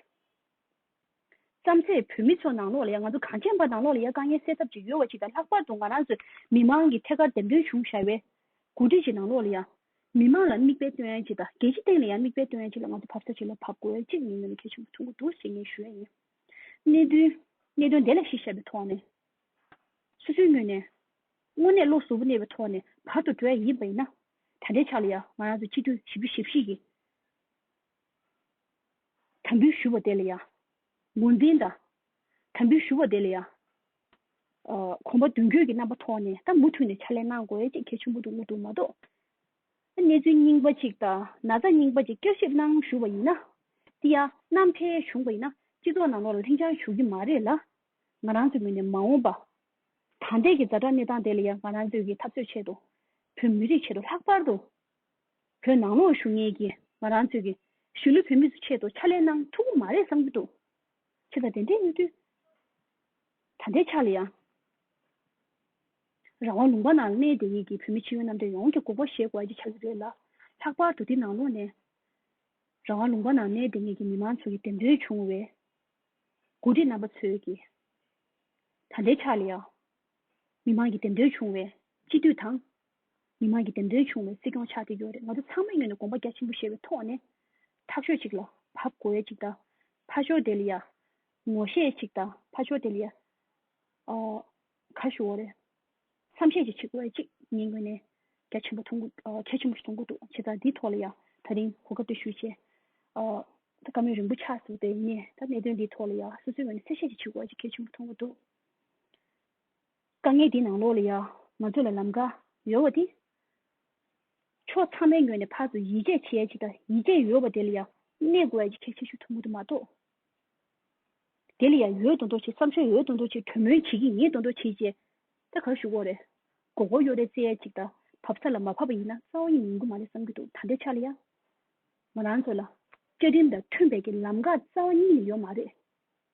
[SPEAKER 1] བརྩམས་ཚེ་བོད་མི་ཚོ་ནང་ལོགས་ལ་ཡ་ང་ཚོ་གངས་ཅན་པ་ནང་ལོགས་ལ་ཡ་དཀའ་ངལ་སེལ་ཐབས་ཅིག་ཡོད་བ་ཅིག་དང་ལྷག་པར་དུ་ང་རང་ཚོའི་མི་དམངས་ཀྱི་ཐད་ཀར་འདེམས་ཐོན་བྱུང་བཞག་པའི་འགོ་ཁྲིད་ཅིག་ནང་ལོགས་ལ་ཡ། མི་དམངས་ལ་མིག་དཔེ་སྟོན་ཡ་ཅིག་དང་རྒྱལ་སྤྱི་སྟེང་ལ་ཡ་མིག་དཔེ་སྟོན་ཡ་ཅིག་ལ་ང་ཚོ་བབས་ས་ཅིག་ལ་བབས་དགོས་ཅེས་ངས་ནམ་མཁའི་ཆུ་མོ་འཐུང་གི་འདུག་ཞེས་ངས་ཞུ་ཡ་ཡིན། གནད་དོན། གནད་དོན་དེ་ལ་གཞི་བཞག་པའི་ཐོག་ནས། སོ་སོའི་ངོས་ནས། དངོས་གནས་བློ་གཟུ་བོ་གནས་པའི་ཐོག་ནས་བར་དུ་འགྲོ་ཡ་ཡིན་པ་ཡིན་ན། ད་ལྟའི་ཆ་ལ་ཡ་ང་རང་ཚོ་སྤྱི་འཐུས་ཞིབ་བཞི་ཞིབ་བཞི་ཡི། དམ་འབུལ་ཞུ་བ་དེ་ལ་ཡང། ངོས་འཛིན་དང། དམ་འབུལ་ཞུ་བ་དེ་ལ་ཡང། གོམ་པ་མདུན་སྐྱོད་ཀྱི་རྣམ་པ་ཐོག་ནས་ད་མུ་མཐུད་ནས་ཕྱག་ལས་གནང་དགོས་ཅེས་གལ་ཆེན་པོ་འདུག་མོ་འདུག་མ་གཏོགས། གནས་ཚུལ་རྙིང་པ་ཅིག་དང་ན་ཚ་རྙིང་པ་ཅིག་བསྐྱར་ཞིབ་གནང་ཞུ་བ་ཡིན་ན། དེ་ཡང་གནམ་འཕེལ་བྱུང་བ་ཡིན་ན་སྤྱི་ཚོགས་ནང་ལོགས་ལ་ལྷིང་འཇགས་བྱུང་གི་མ་རེད་ལ། ང་རང་ཚོའི་ངོས་ནས་མ་འོངས་པ། ད་ལྟའི་གི་རྫ་དྲག་གནས་སྟངས་དེ་ལ་ཡང་ང་རང་ཚོས་ཀྱི་འཐབ་རྩོད་ཆེད་དུ། བོད་མི་རིགས་ཆེད་དུ་ལྷག་པར་དུ་བོད་ནང་ལོགས་ཞུགས་གཉེར་གྱི་ང་རང་ཚོས་ཀྱི་གཞོན་ནུ་བོད་མི་ཚོ་ཆེད་དུ་ཕྱག་ལས་གནང་ཐུབ་ཀྱི་མ་རེད་བསམ་གྱི་འདུག་ཁྱེད་དང་དེ་འདྲའི་གནས་ཚུལ་ད་ལྟའི་ཆར་ལ་ཡང། རང་དབང་ལུང་པ་ནང་གནས་དེ་ཡིག་གི་བོད་མི་ཕྱི་ཡོན་རྣམ་གྲངས་ཡོངས་ཀྱི་དགོངས་པ་བཞེས་དགོས་ཀྱི་ཆགས་ཀྱི་རེད་ལ། ལྷག་པར་དུ་འདི་ནང་ལོགས་ནས་རང་དབང་ལུང་པ་ནང་གནས་དེ་གཉིས་ཀྱི་མི་མང་ཚོ་ཀྱི་འདེམས་ཐོན་བྱུང་བའི་འགོ་ཁྲིད་རྣམ་པ་ཚོས་ཀྱི་ད་ལྟའི་ཆར་ལ་ཡང། མི་མང་གི་འདེམས་ཐོན་བྱུང་བའི་སྤྱི་འཐུས་དང། མི་མང་གི་འདེམས་ཐོན་བྱུང་བའི་སྲིད་སྐྱོང་ཆགས་ཀྱི་ཡོད་རེད་ང་ཚོ་ཚང་མས་ངོས་ནས་དགོངས་པ་རྒྱ་ཆེན་པོ་བཞེས་པའི་ཐོག་ནས། ཐག་ཆོད་ཅིག་ལ་བབ་གོ་ཨེ་ཅིག་ད། ཕ་ཆོ་དེ་ལ་ཡ། ངོ་ཤེས་ཨེ་ཅིག་ད་ཕ་ཆོ་དེ་ལ་ཡ། ག་ཞུ་འོ་རེད། མཚམས་བཤད་ཅིག་བྱེད་གོ་ཨེ་ཅིག་ངས་ངོས་ནས་རྒྱ་ཆེན་པོ་མཐོང་གི། གལ་ཆེན་པོ་མཐོང་གི་འདུག་བྱས་ཙང་འདིའི་ཐོག་ལ་ཡ། ད་རིང་གོ་སྐབས་འདི་ཞུས་རྗེས། ད་བཀའ་མོལ་རིང་པོ་ཆགས་སོང་དེ་ངས་ད་གནད་དོན་འདིའི་ཐོག་ལ་ཡ་སོ་སོའི་ངོས་ནས་གསལ་བཤད་ཅིག་བྱེད་གོ་ཨེ་ཅིག་གལ་ཆེན་པོ་མཐོང་གི་འདུག། དཀའ་ངལ་འདི་ནང་ལོགས་ལ་ཡང་ང་ཚོ་ལ་ལམ་ཀ་ཡོད་བ་དེ། ཕྱོགས་ཚང་མའི་ངོས་ནས་ཕར་ཚུར་ཡིད་ཆེས་བྱེད་ཡ་ཆེ་དང་ཡིད་ཆེས་ཡོད་བ་དེ་ལ་ཡང་གནས་དགོས་ཡ་ཆེ་ཆེ་ཤོས་ཐུ་མུ་ཐུ་མ་གཏོགས། དེ་ལ་ཡང་ཡོད་དོ་འདོག་བྱེད་བསམ་ཤོས་ཡོད་དོ་འདོག་བྱེད་གྲོས་མོལ་བྱེད་ཀྱི་ཡིན་དོ་འདོག་བྱེད་ཅེས་ད་གར་ཞུ་འོ་རེད། མགོ་སྐོར་གཡོ་རེ་རྩེ་ཡ་ཅིག་དང་བབ་ས་ལ་མ་བབ་པ་ཡིན་ན་རྩ་བ་ཡིན་ཡིན་གྱི་མ་རེད་བསམ་གྱི་འདུག་ད་ལྟའི་ཆ་ལ་ཡང། ང་རང་ཚོ་ལ། བཅའ་ཁྲིམས་དང་མཐུན་པའི་གྱི་ལམ་ཀ་རྩ་བ་ཉིད་ནས་ཡོད་མ་རེད།